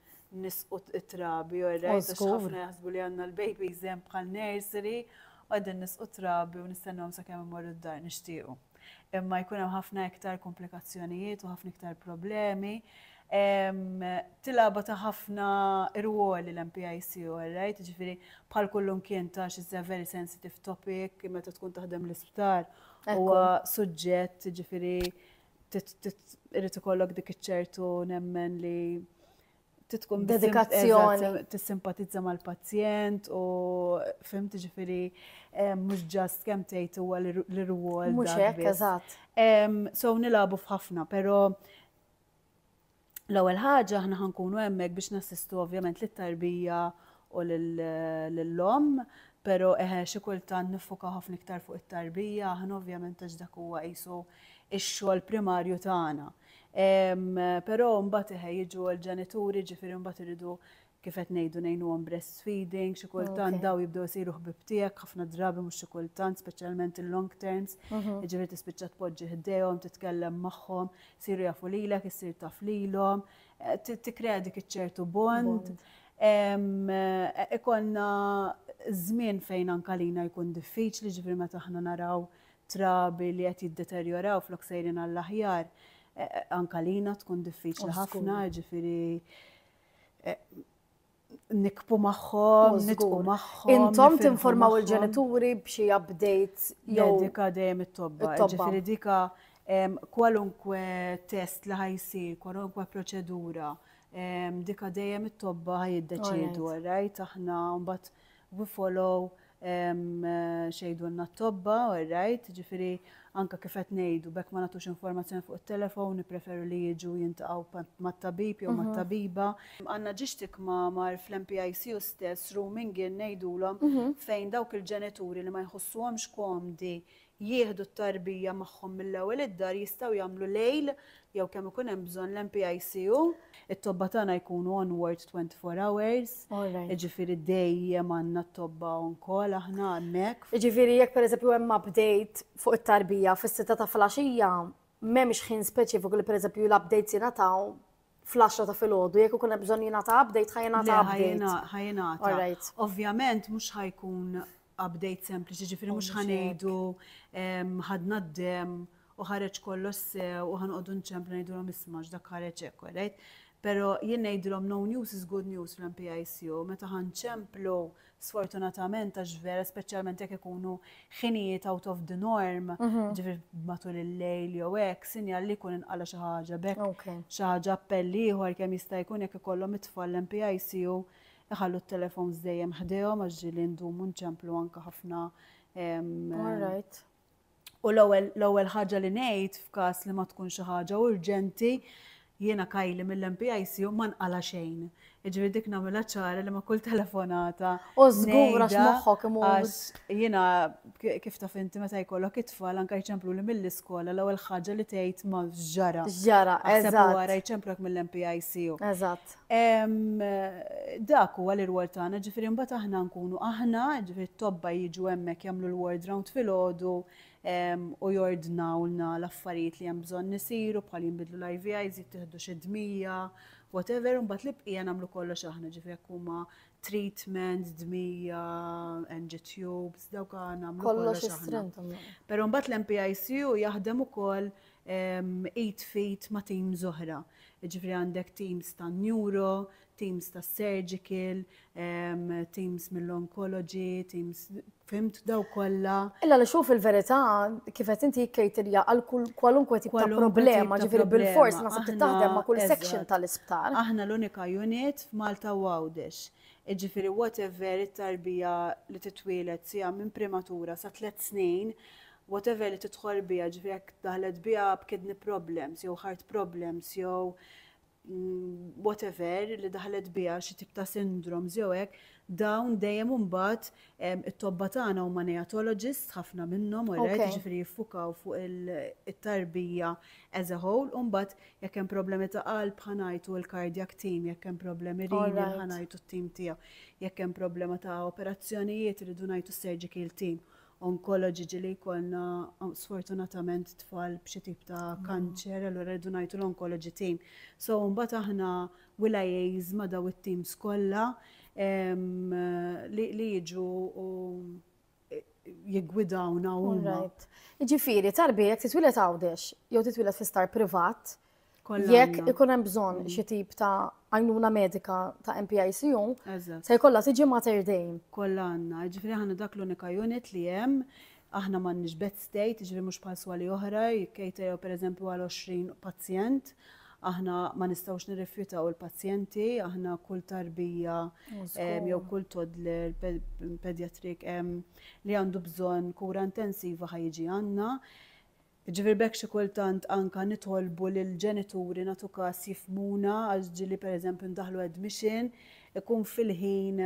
nisqu t-trabi, all right, għax ħafna jaħsbu li għandna l-babies hemm bħal nursery, u qegħdin nisqu t-trabi u nistennhom sakemm imorru d-dar nixtiequ. Imma jkun hemm ħafna iktar komplikazzjonijiet u ħafna iktar problemi. Tilgħaba ta' ħafna irwoli l-MPIC, all right, ġifieri bħal kullum kien ta' xi very sensitive topic meta tkun taħdem l-isptar huwa suġġett ġifieri irid ikollok dik iċ-ċertu nemmen li titkun dedikazzjoni tissimpatizza mal-pazjent u fim tiġifieri eh, mhux ġast kemm tgħid huwa l-irwol. Mhux hekk, eżatt. So nilabu f'ħafna, però L-ewwel ħaġa aħna ħa nkunu hemmhekk biex nassistu ovvjament lit-tarbija u lill-omm, però eħe xi kultant niffukaw ħafna iktar fuq it-tarbija aħna ovvjament għax dak huwa qisu x-xogħol primarju tagħna. Però mbagħad eħe jiġu l-ġenituri ġifieri mbagħad iridu kif qed ngħidu ngħinuhom breastfeeding, xi kultant dawn jibdew isiru ħbieb tiegħek ħafna drabi mhux xi kultant, speċjalment il-long terms, jiġifieri tispiċċa tpoġġi ħdejhom, titkellem magħhom, isiru jafu lilek, issir taf lilhom, tikkrea dik iċ-ċertu bond. Ikollna żmien fejn anke lina jkun diffiċli, jiġifieri meta aħna naraw trabi li qed jiddeterjoraw flok sejrin għall-aħjar, anke lina tkun diffiċli ħafna, jiġifieri nikbu magħhom, nitqu magħhom. Intom tinformaw il-ġenituri b'xi update jew. Dika dejjem it-tobba. Ġifieri dika kwalunkwe test li ħajsi, kwalunkwe proċedura, dika dejjem it-tobba ħajiddeċiedu, right? Aħna mbagħad We follow x'jgħidulna t-tobba, all right, jiġifieri anke kif qed ngħidu b'hekk ma nagħtux informazzjoni fuq it-telefown, nippreferu li jiġu jiltaqgħu mat-tabib jew mat-tabiba. Għandna ġiex tikmamar fl-MPICU stess, rooming in ngħidulhom, fejn dawk il-ġenituri li ma jħossuhomx komdi jieħdu t-tarbija magħhom mill-ewwel id-dar jistgħu jagħmlu lejl jew kemm ikun hemm bżonn l-NPICU. It-tobba tagħna jkunu on ward 24 hours. Jiġifieri dejjem għandna t-tobba on call aħna hemmhekk. Jiġifieri jekk pereżempju hemm update fuq it-tarbija fis-sitta ta' filgħaxija, m'hemmx ħin speċifiku li pereżempju l-updates jingħataw fl-10 ta' filgħodu, jekk ikun hemm bżonn jingħata update, ħa jingħata update. Ħa jingħata. Ovvjament mhux ħa jkun update sempliċi, ġifieri mhux ħa ngħidu ħadna d-dem u ħareġ kollox sew u ħanqogħdu nċemplu ngħidulhom isma' x'dak ħareġ hekk, right? Pero jien ngħidilhom no news is good news fl-MPICU, meta ħanċemplu sfortunatament għax vera speċjalment jekk ikunu ħinijiet out of the norm, mhm. ġifir matul il-lejl jew hekk, sinjal li jkun inqala xi ħaġa bekk xi ħaġa appell ieħor kemm jista' jkun jekk ikollhom it-tfal MPICU iħallu t-telefons dejjem ħdejhom għax ġieli ndumu nċemplu anke ħafna. All right. U l-ewwel l-ewwel ħaġa li ngħid f'każ li ma tkun xi ħaġa urġenti, jiena Kylie mill-MPICU ma nqala' xejn. Jiġifieri dik nagħmilha ċara li ma' kull telefonata ngħidha għax jiena kif taf inti meta jkollok it-tfal anke jċempluli mill-iskola l-ewwel ħaġa li tgħid ma x'ġara. X'ġara, eżatt. Aħseb u ara jċemplulek mill-MPICU. Eżatt. Dak huwa l-irwol tagħna, ġifieri mbagħad aħna nkunu aħna, ġifieri t-tobba jiġu hemmhekk jagħmlu l-ward round filgħodu u jordnawlna l-affarijiet li hemm bżonn isiru bħal jinbidlu l-IVIs, jittieħdu xi dmija, whatever, u mbagħad l-ibqija nagħmlu kollox aħna, ġifieri jekk huma treatment, dmija, NG tubes, dawk nagħmlu kollox aħna. Però mbagħad l-MPICU jaħdem ukoll id f'id ma' teams oħra. Jiġifieri għandek teams tan-neuro, teams tas-surgical, teams mill-oncology, teams, fhimt, dawk kollha. Illa li xu fil-verità kif qed inti jikkaterja għal kwalunkwe tip ta' problema, ġifieri bil-fors ma trid taħdem ma' kull section tal-isptar. Aħna l-unika unit f'Malta u Għawdex. Jiġifieri whatever it-tarbija li titwieled sija minn primatura sa tliet snin, whatever li tidħol biha, ġifieri jekk daħlet biha b'kidney problems jew heart problems jew whatever li daħlet biha xi tip ta' syndromes jew hekk, dawn dejjem imbagħad it-tobba tagħna huma neatologists ħafna minnhom alright, jiġifieri jiffukaw fuq it-tarbija as a whole u mbagħad jekk hemm problemi ta' qalb ħa ngħidu l-cardiac team, jekk hemm problemi renal ħa ngħidu t-tim tiegħu, jekk hemm problema ta' operazzjonijiet irridu ngħidu s-surgical team. onkoloġiġi li jkollna sfortunatament tfal b'xi tip ta' kanċer, allura rridu ngħidu l-onkoloġi tim. So mbagħad aħna will liaise ma' daw it-teams kollha li jiġu u jiggwidawna huma. Ġifieri, tarbiet titwilet Għawdex jew titwilet fi star privat, Jekk ikun hemm bżonn mm. xi tip ta' għajnuna medika ta' MPICU, se jkollha tiġi mater dejjem. Kollha għandna, ġifieri ħanna dak l-unika unit li hemm aħna m'għandniex bed state, ġifieri mhux bħal swali oħra, jikkejta jew pereżempju għal 20 pazjent, aħna ma nistgħux nirrifjutaw il-pazjenti, aħna kull tarbija jew kull toddler pedjatrik li għandu bżonn kura intensiva ħajġi għandna. Jiġifieri b'hekk xi kultant anka nitolbu lill-ġenituri nagħtu kas jifhmuna għax ġieli pereżempju ndaħħlu admission ikun fil-ħin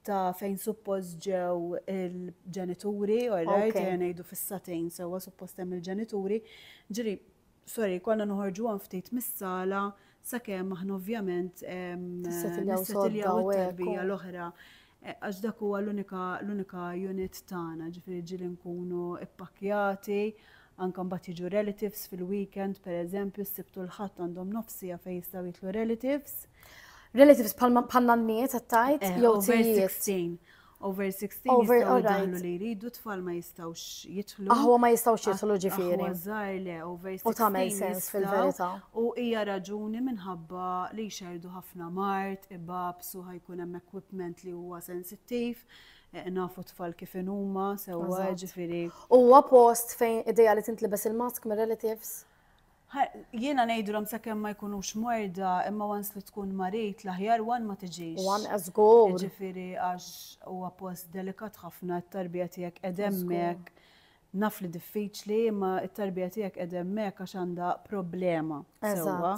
ta' fejn suppost ġew il-ġenituri, alright, ejja ngħidu fis-sagħtejn sewwa suppost hemm il-ġenituri, ġieli sorry konna noħorġuhom ftit mis-sala Sakemm aħna ovvjament nissetiljaw it-tarbija l-oħra għax dak huwa l-unika unit tagħna, ġifieri ġieli nkunu ppakkjati, anke mbagħad jiġu relatives fil-weekend pereżempju s-Sibt u l-Ħadd għandhom nofs siegħa fejn jistgħu jidħlu relatives. Relatives bħal nanniet qed tgħid jew tijiet? Over 16 Over, jistgħu alright. jidħlu li jridu, tfal ma jistgħux jidħlu. Aħwa ma jistgħux jidħlu ġifieri. Aħwa żgħar le, over 16 U tagħmel sens jistgħu, fil-verità. U hija raġuni minħabba li jxerdu ħafna mart, ibabs u ħajkun hemm equipment li huwa sensittiv, eh, nafu tfal kif inhuma, sewwa Eżatt. ġifieri. Huwa post fejn ideja li tintlibes il-mask mir-relatives? Jiena ngħidulhom sakemm ma jkunux mwerda, imma once li tkun marid l-aħjar one ma tiġix. One a żgur. Jiġifieri għax huwa post delikat ħafna, it-tarbija tiegħek qegħda hemmhekk. Naf li diffiċli imma t-tarbija tiegħek qegħda hemmhekk għax għandha problema sewwa.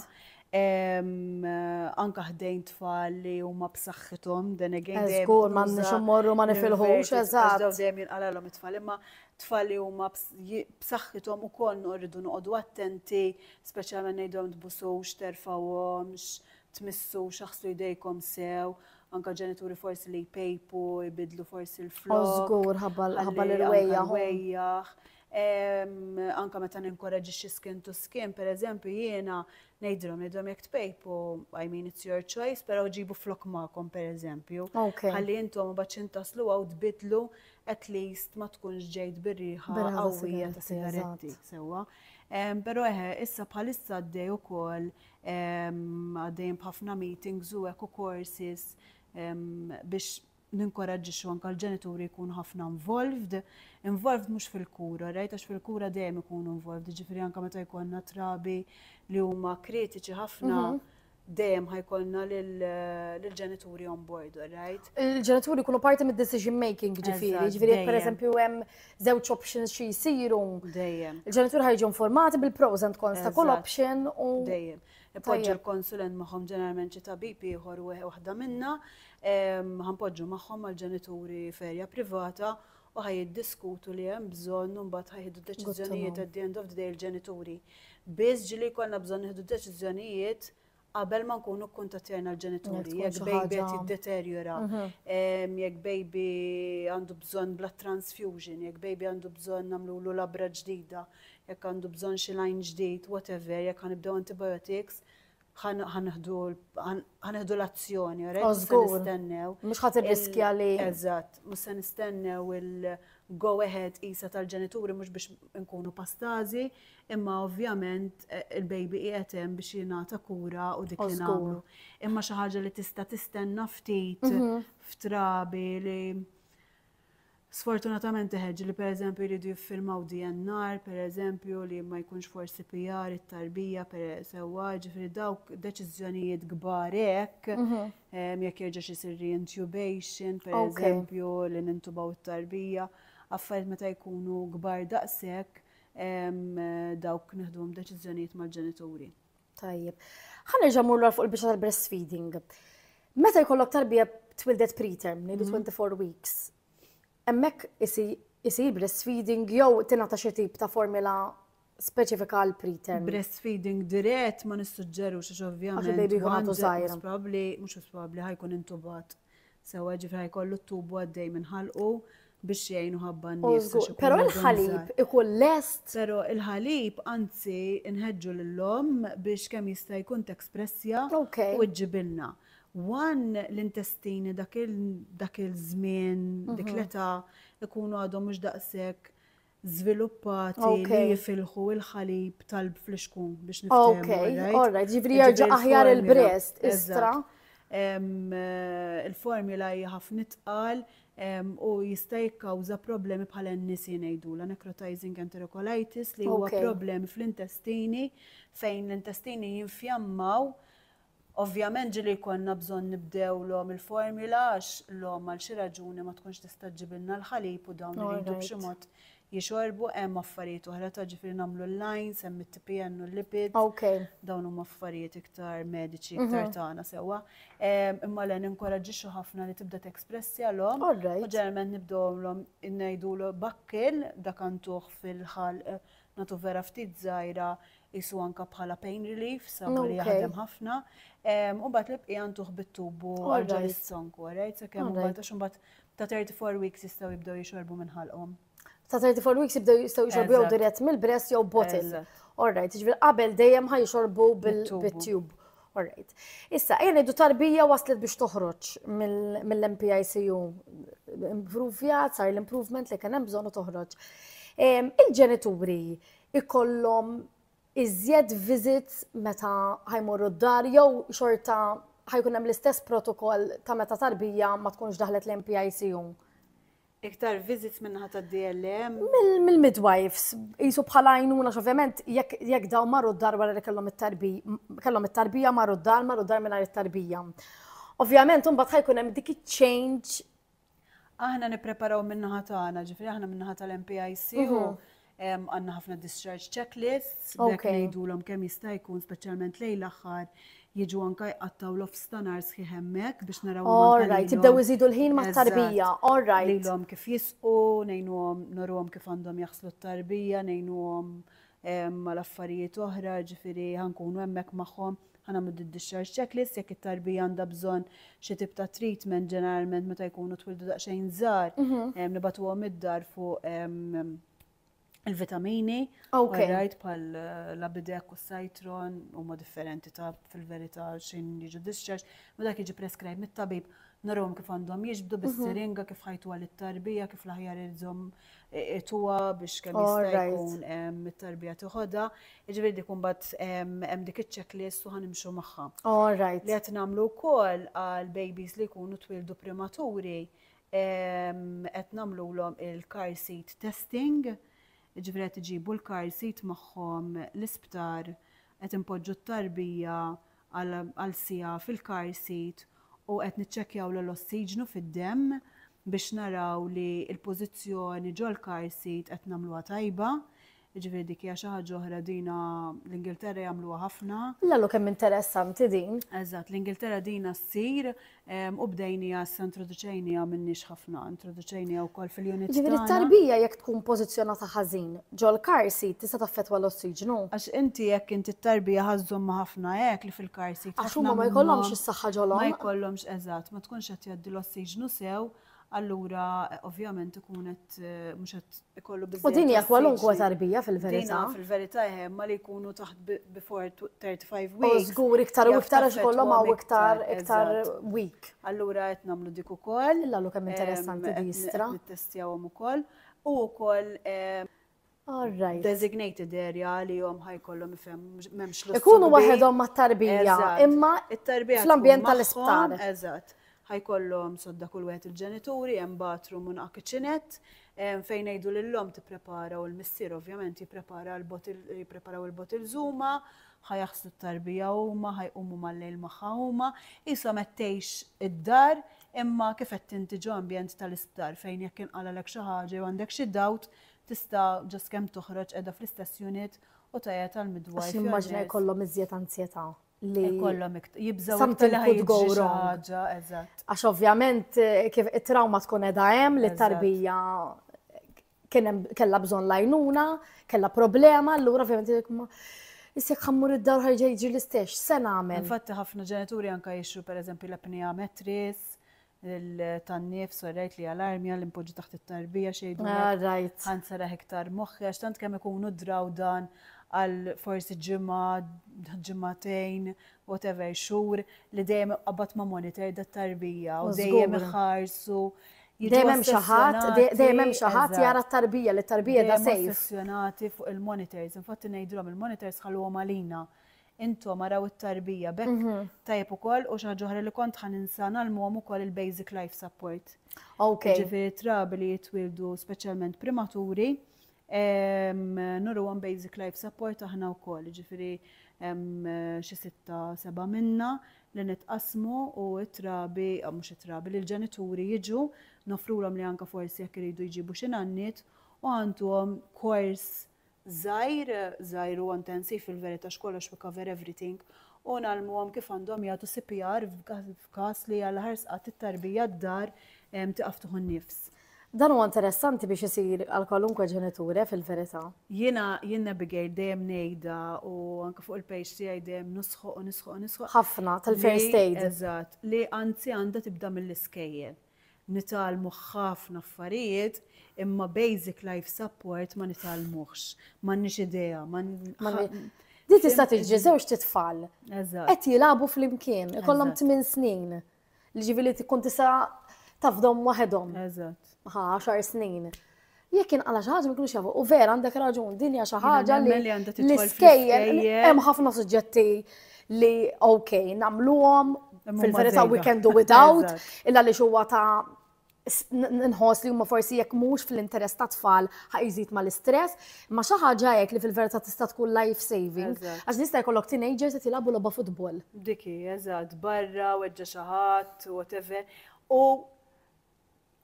Anke ħdejn tfal li huma b'saħħithom, then again. Żgur, m'għandniex immorru ma nifilħux, eżatt. Dawn dejjem jinqalgħalhom it-tfal, imma tfal li huma b'saħħithom ukoll noqogħdu noqogħdu attenti, speċjalment ngħidhom tbusux, terfawhomx, tmissux, aħslu jdejkom sew, anka ġenituri forsi li jpejpu, jbidlu forsi l-flok. Żgur ħabba l-wejjaħ. Anka meta ninkoraġi xi skin to skin, per eżempju, jiena ngħidilhom idhom jekk tpejpu, I mean it's your choice, però ġibu flok magħkom per eżempju. Ħalli intom u baċin taslu għaw tbidlu at least ma tkunx ġejt bir-riħa qawwija ta' sigaretti sewwa. Però eħe, issa bħalissa għaddej ukoll għaddejn b'ħafna meetings u hekk u courses biex ninkoraġġixxu anke l-ġenituri jkun ħafna involved, involved mhux fil-kura, rajt għax fil-kura dejjem ikunu involved, ġifieri anke meta jkollna trabi li huma kritiċi ħafna mhm. dejjem ħajkolna l-ġenituri on board, right? Il-ġenituri kunu parti mid decision making ġifiri, ġifiri, per eżempju, hemm żewġ options xi jisiru. Dejjem. Il-ġenituri ħajġu informati bil-pros and cons ta' kull option u. Dejjem. Ipoġġu l-konsulent magħhom ġeneralment xi tabib ieħor waħda minna, ħanpoġġu magħhom mal-ġenituri ferja privata u ħa jiddiskutu li hemm bżonn u mbagħad ħa jieħdu deċiżjonijiet at the end of the day il-ġenituri. Biss ġieli jkollna bżonn nieħdu deċiżjonijiet qabel ma nkunu kkuntattjajna l-ġenituri, jekk baby qed jiddeterjora, mhm. jekk baby għandu bżonn blood transfusion, jekk baby għandu bżonn nagħmlulu labra ġdida, jekk għandu bżonn xi lajn ġdid, whatever, jekk ħanibdew antibiotics, ħaneħdu l-azzjoni, oh, mhux se nistennew. Mhux ħadd irriskja li. Eżatt, mhux se nistennew il-go ahead isa tal-ġenituri mhux biex nkunu pastażi, imma ovvjament eh, il-baby qiegħed hemm biex jingħata kura u dik li nagħmlu. Imma xi ħaġa li tista' tistenna ftit mhm. f'trabi li Sfortunatament iħeġġu li pereżempju jridu jiffirmaw DNR, pereżempju, li ma jkunx forsi PR, it-tarbija per sewwa, ġifieri dawk deċiżjonijiet kbar hekk, ehm, jekk jerġax isir reintubation, pereżempju, li nintubaw it-tarbija, affarijiet meta jkunu kbar daqshekk ehm, dawk nieħduhom deċiżjonijiet mal-ġenituri. Tajjeb. Ħa nerġa' mmur lura fuq il-biċċa tal-breastfeeding. Meta jkollok tarbija twildet preterm, ngħidu 24 mhm. weeks, hemmhekk isir breastfeeding jew tingħata xi tip ta' formula speċifika għal preterm. Breastfeeding dirett ma nissuġġeru xiex ovvjament. Għax baby jkun għadu zaħira. Probabli, mux probabli, ħajkun intubat. Sewwa ġifri ħajkollu t-tubu għaddej minn ħalqu biex jgħinu ħabba oh, n-nies. Pero il-ħalib ikun lest. Pero il-ħalib, anzi, nħedġu l-lom biex kemm jista' jkun t-ekspressja u ġibilna. Wan l-intestini dak il-żmien, dik mhm. l-età, ikunu għadhom mhux daqshekk żviluppati li jifilħu l-ħalib tal-bflixku biex niftehmu. Okej, all right, ġifieri jerġa' aħjar il-breast, istra. Il-formula hija ħafna itqal u jista' jikkawża problemi bħal NEC ngħidulha, necrotizing enterocolitis, li huwa problemi fl-intestini fejn l-intestini jinfjammaw Ovvjament ġieli jkollna bżonn nibdew l-omm il-formula għax l-omm għal xi raġuni ma tkunx tista' ġġibilna l-ħalib u dawn iridu b'xi mod jixorbu. Hemm affarijiet oħra ta' ġifieri nagħmlu l-lines, hemm it-TPN u l-lipids. Dawn huma affarijiet iktar mediċi, iktar tagħna sewwa. Imma le ninkoraġġixxu ħafna li tibda texpressja l-omm u ġeneralment nibdewlhom ngħidulu bakkil dak għanduh fil-ħalq nagħtu vera ftit żgħira qisu anke bħala pain relief, sabu li jaħdem ħafna. U mbagħad l-ibqija ntuħ bit-tub u għarġa l-istonk, alright? Sakemm mbagħad għax mbagħad ta' 34 weeks jistgħu jibdew jixorbu minn ħalqhom. Ta' 34 weeks jibdew jistgħu jixorbu jew dirett mill-breast jew bottle. Alright, ġifier qabel dejjem ħa jixorbu bit-tub. Alright. Issa, jena idu tarbija waslet biex toħroġ mill-MPICU. Improvjat, sar l-improvement li kien hemm bżonn toħroġ. Il-ġenituri, il ikollhom iżjed visits meta ħa jmorru d-dar jew xorta ħa jkun hemm l-istess protokoll ta' meta tarbija ma tkunx daħlet lejn PICU? Iktar visits min-naħa tad-DLM? Mill-midwives, jisu bħala għajnuna, ovvjament, jekk daw marru d-dar wara li kellhom it-tarbija, kellhom it-tarbija marru d-dar, marru d-dar mingħajr it-tarbija. Ovvjament, imbagħad ħajkun hemm dik iċ-change Aħna nippreparaw min-naħa tagħna, ġifieri aħna min-naħa tal-MPIC u għandna ħafna discharge checklists, b'hekk ngħidulhom kemm jista' jkun speċjalment lejn l-aħħar jiġu anke jqattgħu l-off stanar sħiħ hemmhekk biex naraw. All right, jibdew iżidu l-ħin mat-tarbija, all right. Ngħidulhom kif jisqu, ngħinuhom nurruhom kif għandhom jaħslu t-tarbija, ngħinuhom mal-affarijiet oħra, ġifieri ħa nkunu hemmhekk magħhom. Ħa nagħmlu d-discharge checklist jekk it-tarbija għandha bżonn xi tip ta' treatment ġeneralment meta jkunu twildu daqsxejn żgħar, ehm, nibatuhom id-dar fuq ehm, il-vitamini, Okay. rajt bħal eh, l-abidek u s-sajtron huma differenti ta' fil-verità xejn jiġu discharge, ma dak jiġi prescribe mit-tabib narahom kif għandhom jiġbdu bis-siringa kif ħajtu għal it-tarbija, kif l-aħjar iżhom tuwa biex kemm jista' jkun it-tarbija tiħodha, jiġifieri dik imbagħad hemm dik iċ-checklist u ħanimxu magħha. All right. Li qed nagħmlu wkoll għal babies li jkunu twildu primaturi qed nagħmlulhom il-car seat testing, jiġifieri qed iġibu l-car seat magħhom l-isptar qed inpoġġu t-tarbija għal siegħa fil-car seat u qed niċċekkjawlu l-ossiġnu fid-demm biex naraw li l-pożizzjoni ġol-car seat qed nagħmluha tajba. Jiġifieri dik hija xi ħaġa oħra dina l-Ingilterra jagħmluha ħafna. L-għallu kemm interessanti din. Eżatt, l-Ingilterra dina ssir U bdejnija issa introduċejnija minniex ħafna, introduċejnija wkoll fil-unit. Ġifieri t-tarbija jekk tkun pożizzjonata ħażin ġol-car seat tista' taffettwa l-ossiġnu. Għax inti jekk inti t-tarbija ħa żżommha ħafna hekk li fil-car seat. Għax huma ma jkollhomx is-saħħa ġolhom. Ma jkollhomx eżatt, ma tkunx qed jgħaddi l-ossiġnu sew allura ovvjament ikun qed mhux qed ikollu biżżejjed. U din hija kwalunkwe tarbija fil-verità. Fil-verità hemm ma li jkunu taħt before 35 weeks. U żgur iktar u iktar għax kollhom hawn iktar iktar week. Allura qed nagħmlu dik ukoll. Illa lu kemm interessanti di jistra. Nittestjawhom ukoll. U wkoll Għarrajt. Designated area li jom ħajkollhom ifhem m'hemmx l Ikunu waħedhom mat-tarbija, imma fl-ambjent tal-isptar. Eżatt. Ħajkollhom sodda kull wieħed il-ġenituri, hemm bathroom u kitchenette fejn ngħidu lill-om tipprepara u l-missier ovvjament jipprepara l-botil jippreparaw il-botil żuma, ħajaħslu t-tarbija huma, ħajqumu mal-lejl magħha huma, ishom qed tgħix id-dar imma kif qed tinti ġo ambjent tal-isptar fejn jekk inqalalek xi ħaġa jew għandek xi dawt Tista' ġust kemm toħroġ qiegħda fl-istess unit u tgħajjat għal midwife. Għax nimmaġina jkollhom iżjed anzjetà li. Jkollhom iktar. Jibżgħu iktar li ħajjiġri xi ħaġa, eżatt. Għax ovvjament kif it-trawma tkun qiegħda hemm li t-tarbija kellha bżonn l-għajnuna, kellha problema, allura ovvjament Issa jekk ħammur id-dar ħajġa jiġri l-istess, se nagħmel. Infatti ħafna ġenituri anke jixru pereżempju l-apnea mattress, tan-nifs u rajt li għal-armja li mpoġġi taħt it-tarbija xejdu. Ah, rajt. Għan sara hektar moħħi, għax tant kemm ikunu draw dan għal forsi ġimma, ġimmatejn, whatever, xur, li dejjem qabbat ma' monitor da' tarbija u dejjem iħarsu. Dejjem hemm xi ħadd, dejjem hemm xi ħadd jara t-tarbija li t-tarbija da sejf. Ossessjonati fuq il-monitors, infatti ngħidulhom il-monitors ħalluhom għalina. intom araw it-tarbija b'hekk tajjeb ukoll u xi ħaġa oħra li kont ħa ninsa ngħallmuhom ukoll il-basic life support. Okay. Ġifieri trabi li jitwildu speċjalment primaturi nuruhom basic life support aħna wkoll, ġifieri xi sitta seba' minna li nitqasmu u t-trabi, mhux it-trabi, li l-ġenituri jiġu nofrulhom li anka forsi jekk iridu jġibu xi nanniet u għandhom kors żgħir, żgħir u intensiv fil-verità x'kollox we cover everything, u ngħallmuhom kif għandhom jagħtu CPR f'każ li għal aħħar sqatt it-tarbija d-dar tiqaf tieħu n-nifs. Dan huwa interessanti biex isir għal kwalunkwe ġeniture fil-verità. Jiena jien Abigail dejjem ngħidha u anke fuq il-page tiegħi dejjem nisħoq u nisħoq u nisħoq. Ħafna tal-first aid. Eżatt, li anzi għandha tibda mill-iskejjel. Nitgħallmu ħafna affarijiet imma basic life support ma nitgħallmuhx. M'għandniex idea. Din tista' tiġi żewġ titfal. Qed jilagħbu flimkien, ikollhom tmien snin. Jiġifieri tkun tista' tafdhom waħedhom. Eżatt. Ħa għaxar snin. Jekk inqala xi ħaġa ma jkunux jafu. U vera għandek raġun, din hija xi ħaġa li l-iskejjel hemm ħafna suġġetti li ok, nagħmluhom fil-verità we can do without, illa li huwa ta' nħos li huma forsi jekk mhux fl-interess ta' tfal ħajżid ma l-istress, ma xi ħaġa hekk li fil-verità tista' tkun life saving. Għax nista' jkollok teenagers qed jilagħbu logħba futbol. Diki, eżatt, barra, weġġa' xi ħadd, whatever. U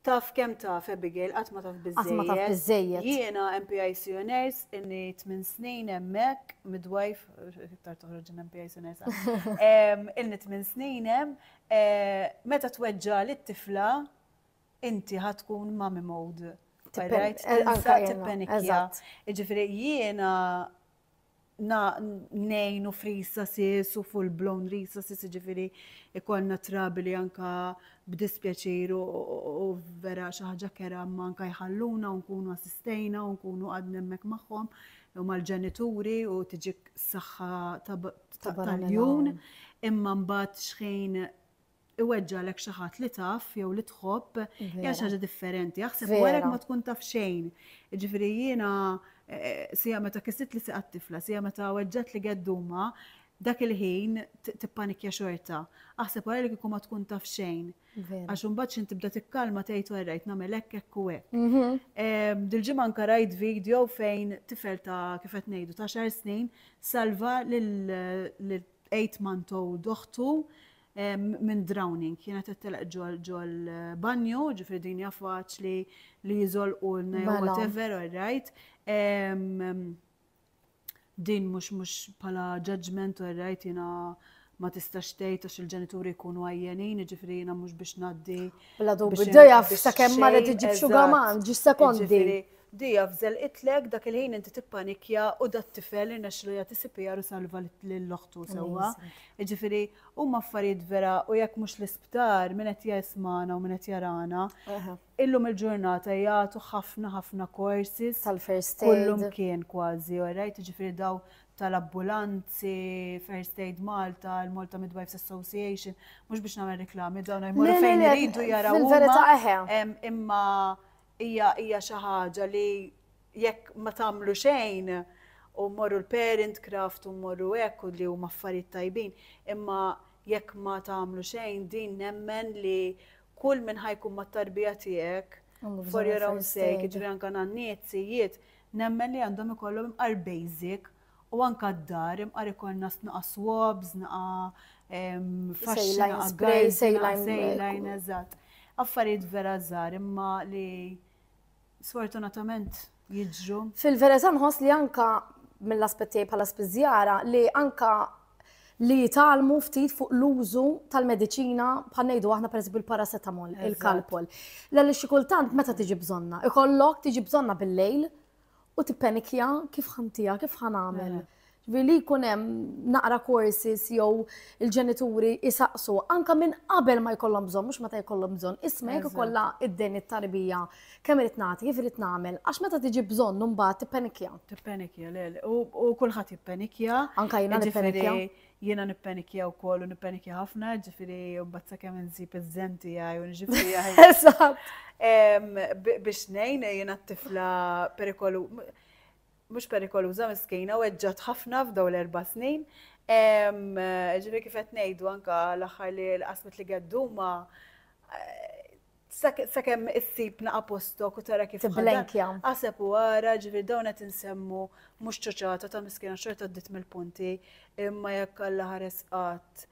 Taf kemm taf, Abigail, qatt ma taf biżżejjed. Qatt ma taf biżżejjed. Jiena MPIC Honors, ilni tmien snin hemmhekk, midwife, iktar toħroġ in MPIC Honors. Ilni tmien snin hemm, meta tweġġagħli t-tifla, inti ħa tkun mummy mode. Tippenikja. Jiġifieri jiena ngħinu f'resources u full blown resources jiġifieri ikollna trabili anka b'dispjaċir u vera xi ħaġa kera ma anka jħalluna u nkunu assistejna u nkunu għadna hemmhekk magħhom u mal-ġenituri u tiġik saħħa tal-jun imma mbagħad xħin iweġġgħalek xi ħadd li taf jew li tħobb hija xi ħaġa differenti. Aħseb warek ma tkun taf xejn. Ġifieri jiena eh, sija meta kissit li siqat tifla, sija meta weġġat li gedduma, dak il-ħin tippanikja xorta. Aħseb wara li kieku ma tkun taf xejn. Għax imbagħad xi tibda tikkalma tgħid u rajt nagħmel hekk hekk u hekk. Mhm. Ehm, dil-ġimgħa anke rajt video fejn tifel ta' kif qed ngħidu ta' xar snin salva lil 8 month old oħtu minn drowning, kienet qed telaq ġol banju, ġifri din hija faċli li jiżolqulna jew mela. whatever, all right. Din mhux mhux bħala judgment, all right, jiena ma tistax tgħid għax il-ġenituri jkunu għajjenin, ġifri jiena mhux biex ngħaddi. Bla dubju, dejja sakemm mara tiġib xugaman, ġis sekondi. Di afżel qitlek, dak il-ħin inti tippanikja u dat-tifel irnexxilu jagħti CPR u salva lil oħtu sewwa. Jiġifieri huma affarijiet vera u jekk mhux l-isptar min qed jismagħna u min qed jarana illum il-ġurnata jagħtu ħafna ħafna courses tal-first aid kullimkien kważi orajt jiġifieri daw tal-abbulanzi, First Aid Malta, l-Malta Midwives Association, mhux biex nagħmel reklami dawn jmorru fejn iridu jaraw. Fil-verità eħe. Imma Hija hija xi ħaġa li jekk ma tagħmlu xejn u mmorru l-parent craft u mmorru hekk u li huma affarijiet tajbin, imma jekk ma tagħmlu xejn din nemmen li kull min ħa jkun mat-tarbija tiegħek for your own sake, jiġifieri anke nanniet, sijiet, nemmen li għandhom ikollhom imqar basic U anka d-dar, imqar ikollna snaqa swabs, snaqa faxxina, snaqa spray, sejlajn, eżatt. Affarijiet vera żgħar imma li sfortunatament jiġru. Fil-vereza nħoss li anka mill-aspetti bħala spiżjara li anka li jitalmu ftit fuq l-użu tal-medicina bħal ngħidu aħna pereżempju l-paracetamol, il-kalpol. L-għalli xikultant meta tiġi bżonna, ikollok tiġi bżonna bil-lejl u tippenikja kif ħantija, kif ħanamel. Mela. Ġifieri li jkun hemm naqra courses jew il-ġenituri isaqsu anka minn qabel ma jkollhom bżonn, mhux meta jkollhom bżonn, isma' jekk ikollha id-dejn it-tarbija kemm irid nagħti, kif irid nagħmel, għax meta tiġi bżonn imbagħad tippenikja. Tippenikja, le, u kulħadd jippenikja. Anka jiena nippenikja. Jiena nippenikkja wkoll u nippenikkja ħafna, ġifieri mbagħad sakemm insib iż-żen tiegħi u nġib tiegħi. Eżatt. Biex ngħin jiena t-tifla perikolu mhux perikoluża miskina u eġġat ħafna f'daw l-erba' snin. Ġifieri kif qed ngħidu anke l-aħħar li l-qasmet li gedduma Sakemm issib naqa' postok u tara kif Tiblenkja. Aħseb u ara ġifieri dawn qed insemmu mhux ċoċata ta' miskina xorta għaddiet mill-punti imma jekk Alla ħares qatt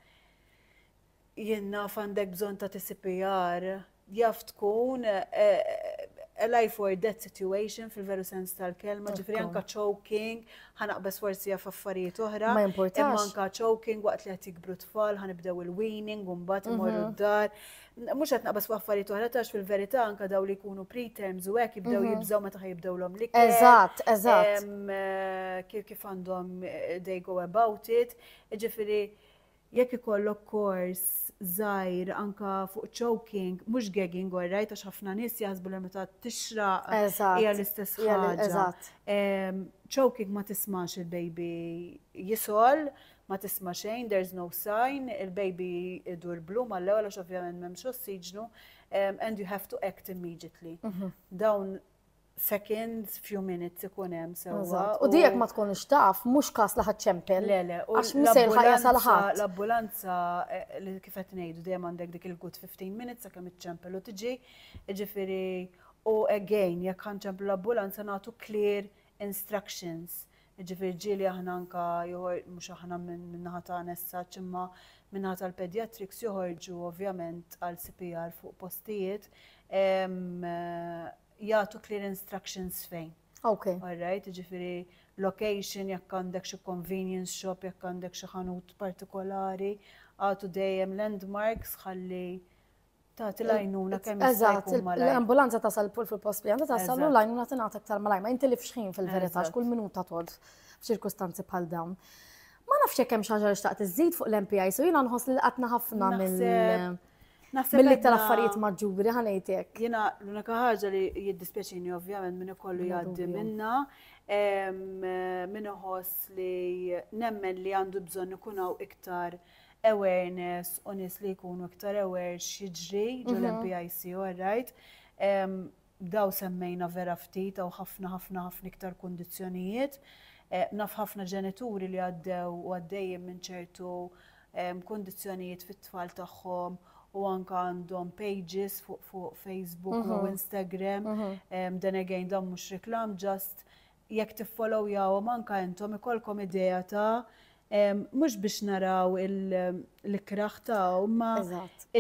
jien naf għandek bżonn ta' TCPR jaf tkun a life or death situation fil-veru sens tal-kelma, ġifri anka choking, ħanaqbes forsi għaf affarijiet oħra. Ma importax. Anka choking waqt li għat jikbru tfal, ħanibdew il-weaning, un-bat mhm. imorru d-dar. Mm -hmm Mhux qed naqbas fuq affarijiet oħra tax fil-verità anke daw li jkunu preterms u hekk jibdew mhm. jibżgħu meta ħajibdewlhom li Eżatt, eżatt. Eh, kif għandhom eh, they go about it. Ġifieri jekk ikollok kors zaħir anka fuq choking, mux gagging għorraj, ta' ħafna nis jazbu li meta tixra hija l-istess ħaġa. Choking ma tismax il-baby jisol, ma tisma' xejn, there's no sign, il-baby idur blu mal-ewwel għax ovvjament m'hemmx ossiġnu, and you have to act immediately. Dawn seconds, few minutes ikun hemm sewwa. U di jekk ma tkunx taf, mhux każ li ħadd ċempel. Le, le, u Għax mhux se jilħaq jasal l-ambulanza, ħadd. l-ambulanza eh, li kif qed ngħidu dejjem għandek dik il-good 15 minutes sakemm iċċempel u tiġi, jiġifieri u again jekk ħanċemplu l-ambulanza nagħtu clear instructions, jiġifieri ġieli aħna anke joħor, mhux aħna min-naħa tagħna as such, imma min-naħa tal-paediatrics joħorġu ovvjament għal CPR fuq postijiet, jagħtu clear instructions fejn. Okay. All right, jiġifieri location, jekk għandek xi convenience shop, jekk għandek xi ħanut partikolari, agħtu dejjem landmarks ħalli Tagħti l-għajnuna kemm jista' Eżatt, jkun il- malajr. l-ambulanza tasal pur fil-post li għandha tasal u Eżatt. l-għajnuna tingħata aktar malajr. Ma jintilifx ħin fil-verità Eżatt. x'kull minuta tgħodd f'ċirkustanzi bħal dawn. Ma nafx jekk hemm xi ħaġa li xtaqt iżżid fuq l-MPIs u jiena nħoss li laqatna ħafna mill Naħseb- naħseb mill-iktar għedna- affarijiet maġġuri ħa ngħid hekk. Jiena l-unika ħaġa li jiddispjaċini ovvjament min ikollu Bla jgħaddi dubju. minnha, em, min iħoss li nemmen li għandu bżonn ikun hawn iktar awareness u nies li jkunu iktar aware x'jiġri ġol mhm. MPIC, all right. Daw semmejna vera ftit u ħafna ħafna ħafna iktar kundizzjonijiet. Eh, naf ħafna ġenituri li għaddew u għaddejjem minn ċertu kundizzjonijiet fit-tfal tagħhom u anka għandhom pages fuq fuq Facebook u mhm. Instagram. Mhm. Dan again dan mhux reklam ġast jekk tiffolowjawhom anke intom ikollkom idea ta' mhux biex naraw l-ikrah ta' imma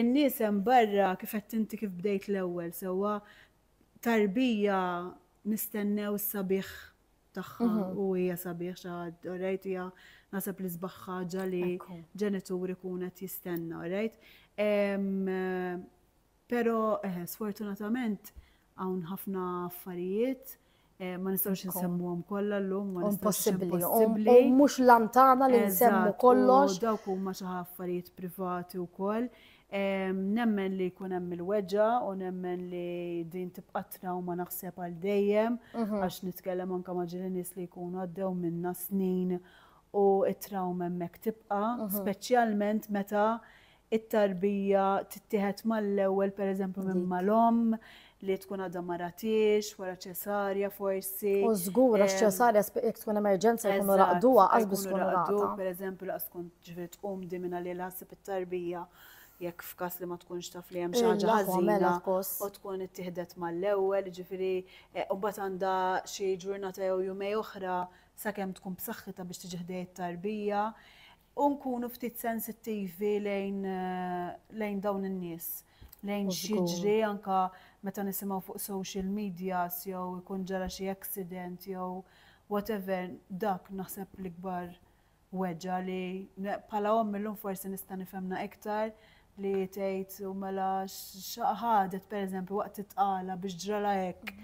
n-nies hemm barra kif għedt inti kif bdejt l-ewwel sewwa tarbija nistennew s-sabiħ tagħha u hija sabiħ xi ħadd orajt hija naħseb l-isbaħ ħaġa li ġenitur ikun qed jistenna orajt. Pero, sfortunatament, hawn ħafna affarijiet Eh, ma nistgħux insemmuhom kollha llum, ma nistgħux impossibbli. U mhux lantana li nsemmu kollox. Dawk huma xi affarijiet privati wkoll. Nemmen li jkun hemm il-weġġa u nemmen li din tibqa' trawma naħseb għal dejjem mhm. għax nitkellem anke ma' ġieli nies li jkunu għaddew minna snin u t-trawma hemmhekk tibqa', mhm. speċjalment meta it-tarbija tittieħed mal-ewwel pereżempju minn mal-omm li tkun għadha ma ratiex, wara ċesarja forsi. U żgur għax ċesarja jekk tkun emerġenza jkunu raqduha għax biex tkun raqdu. Pereżempju laqas tkun ġifieri tqum di minn għalija ħassib it-tarbija jekk f'każ li ma tkunx taf li hemm xi ħaġa ħażina u tkun ittieħdet mal-ewwel, ġifieri e, u mbagħad għandha xi ġurnata jew jumej oħra sakemm tkun b'saħħitha biex tiġi ħdej it-tarbija. u nkunu ftit sensittivi lejn lejn dawn in-nies lejn x'jiġri anka meta nisimgħu fuq social medias jew ikun ġara xi accident jew whatever dak naħseb l-ikbar weġgħa li bħala omm illum forsi nista' nifhemna iktar li tgħid u mela x'ħadet pereżempju waqt it-tqala biex ġralha hekk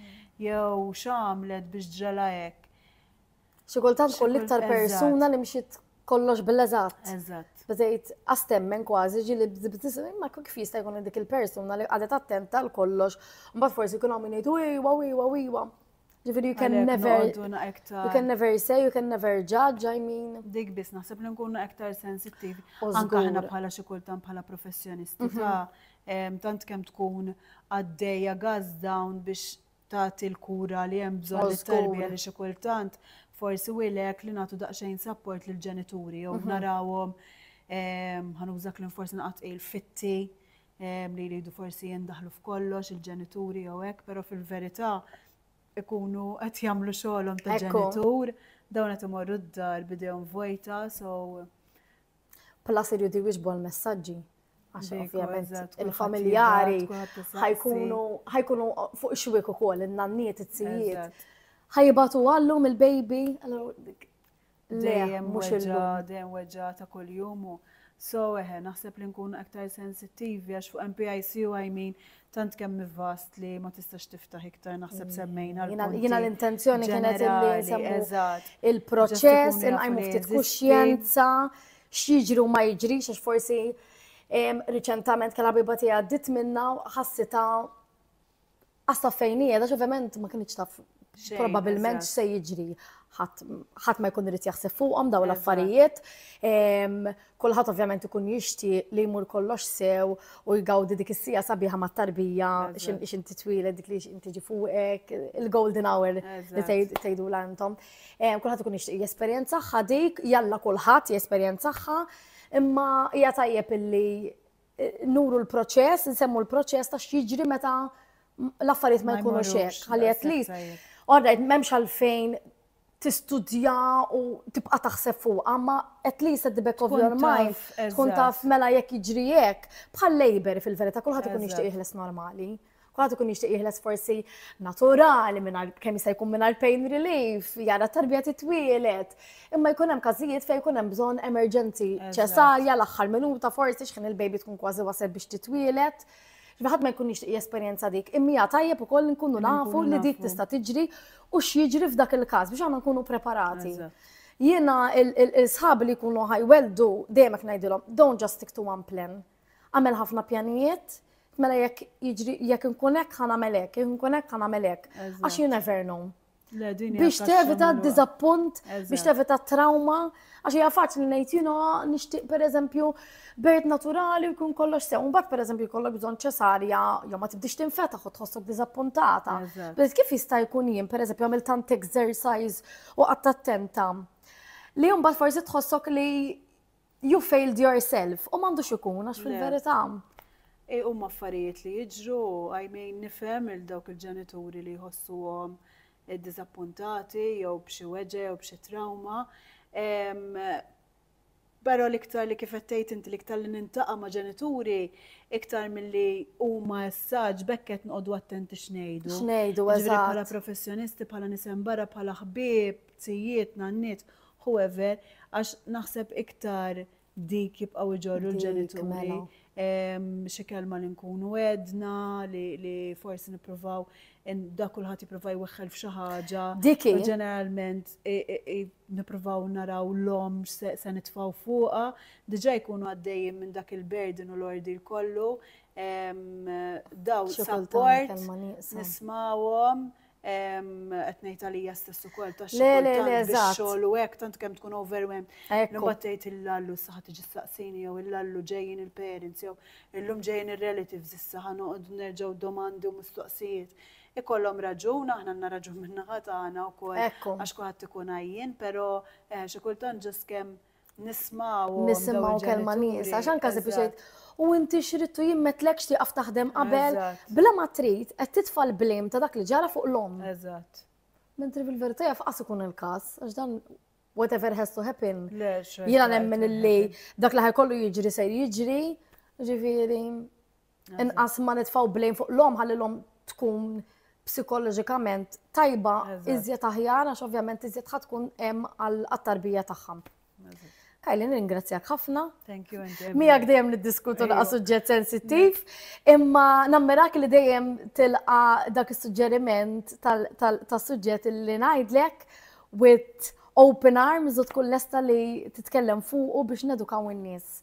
jew x'għamlet biex ġralha hekk. Xi kultant kull iktar persuna li mxiet kollox bil-eżatt. Eżatt. Bdejt astemmen kważi ġili ma kif jista' jkun dik il-persuna li qadet attenta għal kollox. Mbagħad forsi jkun hawn min jgħidu iwa iwa iwa. Ġifieri you can never you can never say, you can never judge, I mean. Dik biss naħseb li nkunu aktar sensittivi. Anke aħna bħala xi kultant bħala professjonisti mhm. ta' tant kemm tkun għaddejja gas down biex tagħti l-kura li hemm bżonn Żgur. lit-tarbija li xi kultant forsi wilek li nagħtu daqsxejn sapport lill-ġenituri jew narawhom ehm, ħanuża kliem forsi naqgħod tqil fitti ehm, li jridu forsi jindaħlu f'kollox il-ġenituri jew hekk, però fil-verità ikunu qed jagħmlu xogħolhom ta' Ekku. ġenitur, dawn qed imorru d-dar bidejhom vojta, so Plus irridu jwiġbu għal messaġġi għax ovvjament il-familjari ħajkunu fuq xwik u kol, il-nanniet, it-sijiet. ħajibatu għallu mill-baby, dejjem mux il-lum. Dejjem weġġa ta' kull jumu. So, eħe, naħseb li nkunu aktar sensittivi għax fuq MPIC u għajmin tant kemm vast li ma tistax tiftaħ iktar naħseb mm. semmejna. Jina l-intenzjoni kienet li nsemmu il-proċess, inqajmu ftit kuxjenza, x'jiġri u ma jiġrix, għax forsi riċentament kien biba tiegħi għaddit minna ħassita għasta fejni, għax ovvjament ma kienx taf probabilment se jiġri ħadd ma jkun irid jaħseb fuqhom dawn l-affarijiet. Kulħadd ovvjament ikun jixtieq li jmur kollox sew u jgawdi dik is-sija sabiħa mat-tarbija x'in titwieled dik li x'in tiġi fuqek, il-golden hour li tgħidu l intom. Eh, kulħadd ikun jixtieq jesperjenza dik, jalla kulħadd jesperjenza imma hija tajjeb illi eh, nuru l-proċess, nsemmu l-proċess ta' x'jiġri meta l-affarijiet ma jkunux hekk. Ħalli at least, all right, m'hemmx għalfejn tistudja u tibqa' taħseb fuqha, ma at least at the back of your mind tkun taf mela jekk jiġri hekk. Bħal labor fil-verità kulħadd ikun jixtieq jeħles normali. Kulħadd ikun jixtieq jeħles forsi naturali mingħajr kemm jista' jkun mingħajr pain relief, jara tarbija titwielet. Imma jkun hemm każijiet fejn jkun hemm bżonn emerġenzi ċesarja l-aħħar minuta forsi x'ħin il-baby tkun kważi waseb biex titwielet. Ġifieri ħadd ma jkun jixtieq jesperjenza dik, imma hija tajjeb ukoll nkunu nafu li dik tista' tiġri u x'jiġri f'dak il-każ biex aħna nkunu preparati. Jiena il-sħab li jkunu ħajweldu dejjem hekk ngħidilhom, don't just stick to one plan. Għamel ħafna pjanijiet, mela jekk jiġri jekk inkun hekk ħa nagħmel hekk, jekk inkun hekk ħa nagħmel hekk. Għax you never know. biex tevita d-dizappunt, biex tevita trauma, għax hija faċli ngħid jino nixtieq pereżempju bejt naturali u jkun kollox sew. Mbagħad pereżempju jkollok bżonn ċesarja jew ma tibdix tinfetaħ u tħossok diżappuntata. Biss kif jista' jkun jien pereżempju għamil tant exercise u qatt attenta li mbagħad forsi tħossok li You failed yourself, u m'għandux ikun għax fil-verità. E u affarijiet li jiġru, għajmejn nifhem il dawk il-ġenituri li jħossuhom eh, diżappuntati jew b'xi weġe jew b'xi trauma. Pero l-iktar li kifet tgħid inti l-iktar li nintaqa' ma' ġenituri iktar milli huma essaġ bekket noqogħdu attenti x'ngħidu. X'ngħidu eżatt. Bħala professjonisti, bħala nisem barra, bħala ħbieb. Tzijiet, nanniet, whoever, għax naħseb iktar dik jibqgħu jġorru l-ġenituri. Mela. Xi kelma li nkunu għedna, li forsi nippruvaw da kulħadd jipprova jweħħel f'xi ħaġa. Diki. Ġeneralment nippruvaw naraw l-om se nitfgħu fuqha, diġà jkunu għaddejjin minn dak il-burden u l-ordi kollu. Daw support, nismawhom, qed ngħid għalija stess ukoll ta' xogħol u hekk tant kemm tkun overwhelmed. Imbagħad tgħid il-lallu saħa tiġi staqsini jew il-lallu ġejjin il-parents jew illum ġejjin ir-relatives issa ħa noqogħdu nerġgħu domandi u mistoqsijiet. Ikollhom raġun, aħna għandna raġun min-naħa tagħna wkoll għax kulħadd ikun għajjien, però eh, xi kultant ġust kemm Nismgħu. Nisimgħu kelma nies, għax anke se biex u inti xrittu jien metlekx tieqaf taħdem qabel. Bla ma trid qed titfa' l-blame ta' dak li ġara fuq l-omm. Eżatt. Mentri fil-verità jaf qas ikun il-każ, għax dan whatever has to happen. Jiena nemmen illi dak li ħajkollu jiġri se jiġri, ġifieri. Inqas ma nitfgħu blame fuq l-omm ħalli l-omm tkun psikoloġikament tajba iżjed aħjar għax ovvjament iżjed ħad tkun hemm għall-tarbija tagħha. Kajli ningrazzjak ħafna. Thank you, Mija dejjem niddiskutu naqa' suġġett sensittiv, imma nammirak li dejjem tilqa dak is-suġġeriment tas-suġġett li ngħidlek with open arms u tkun lesta li titkellem fuqu biex nedukaw in-nies.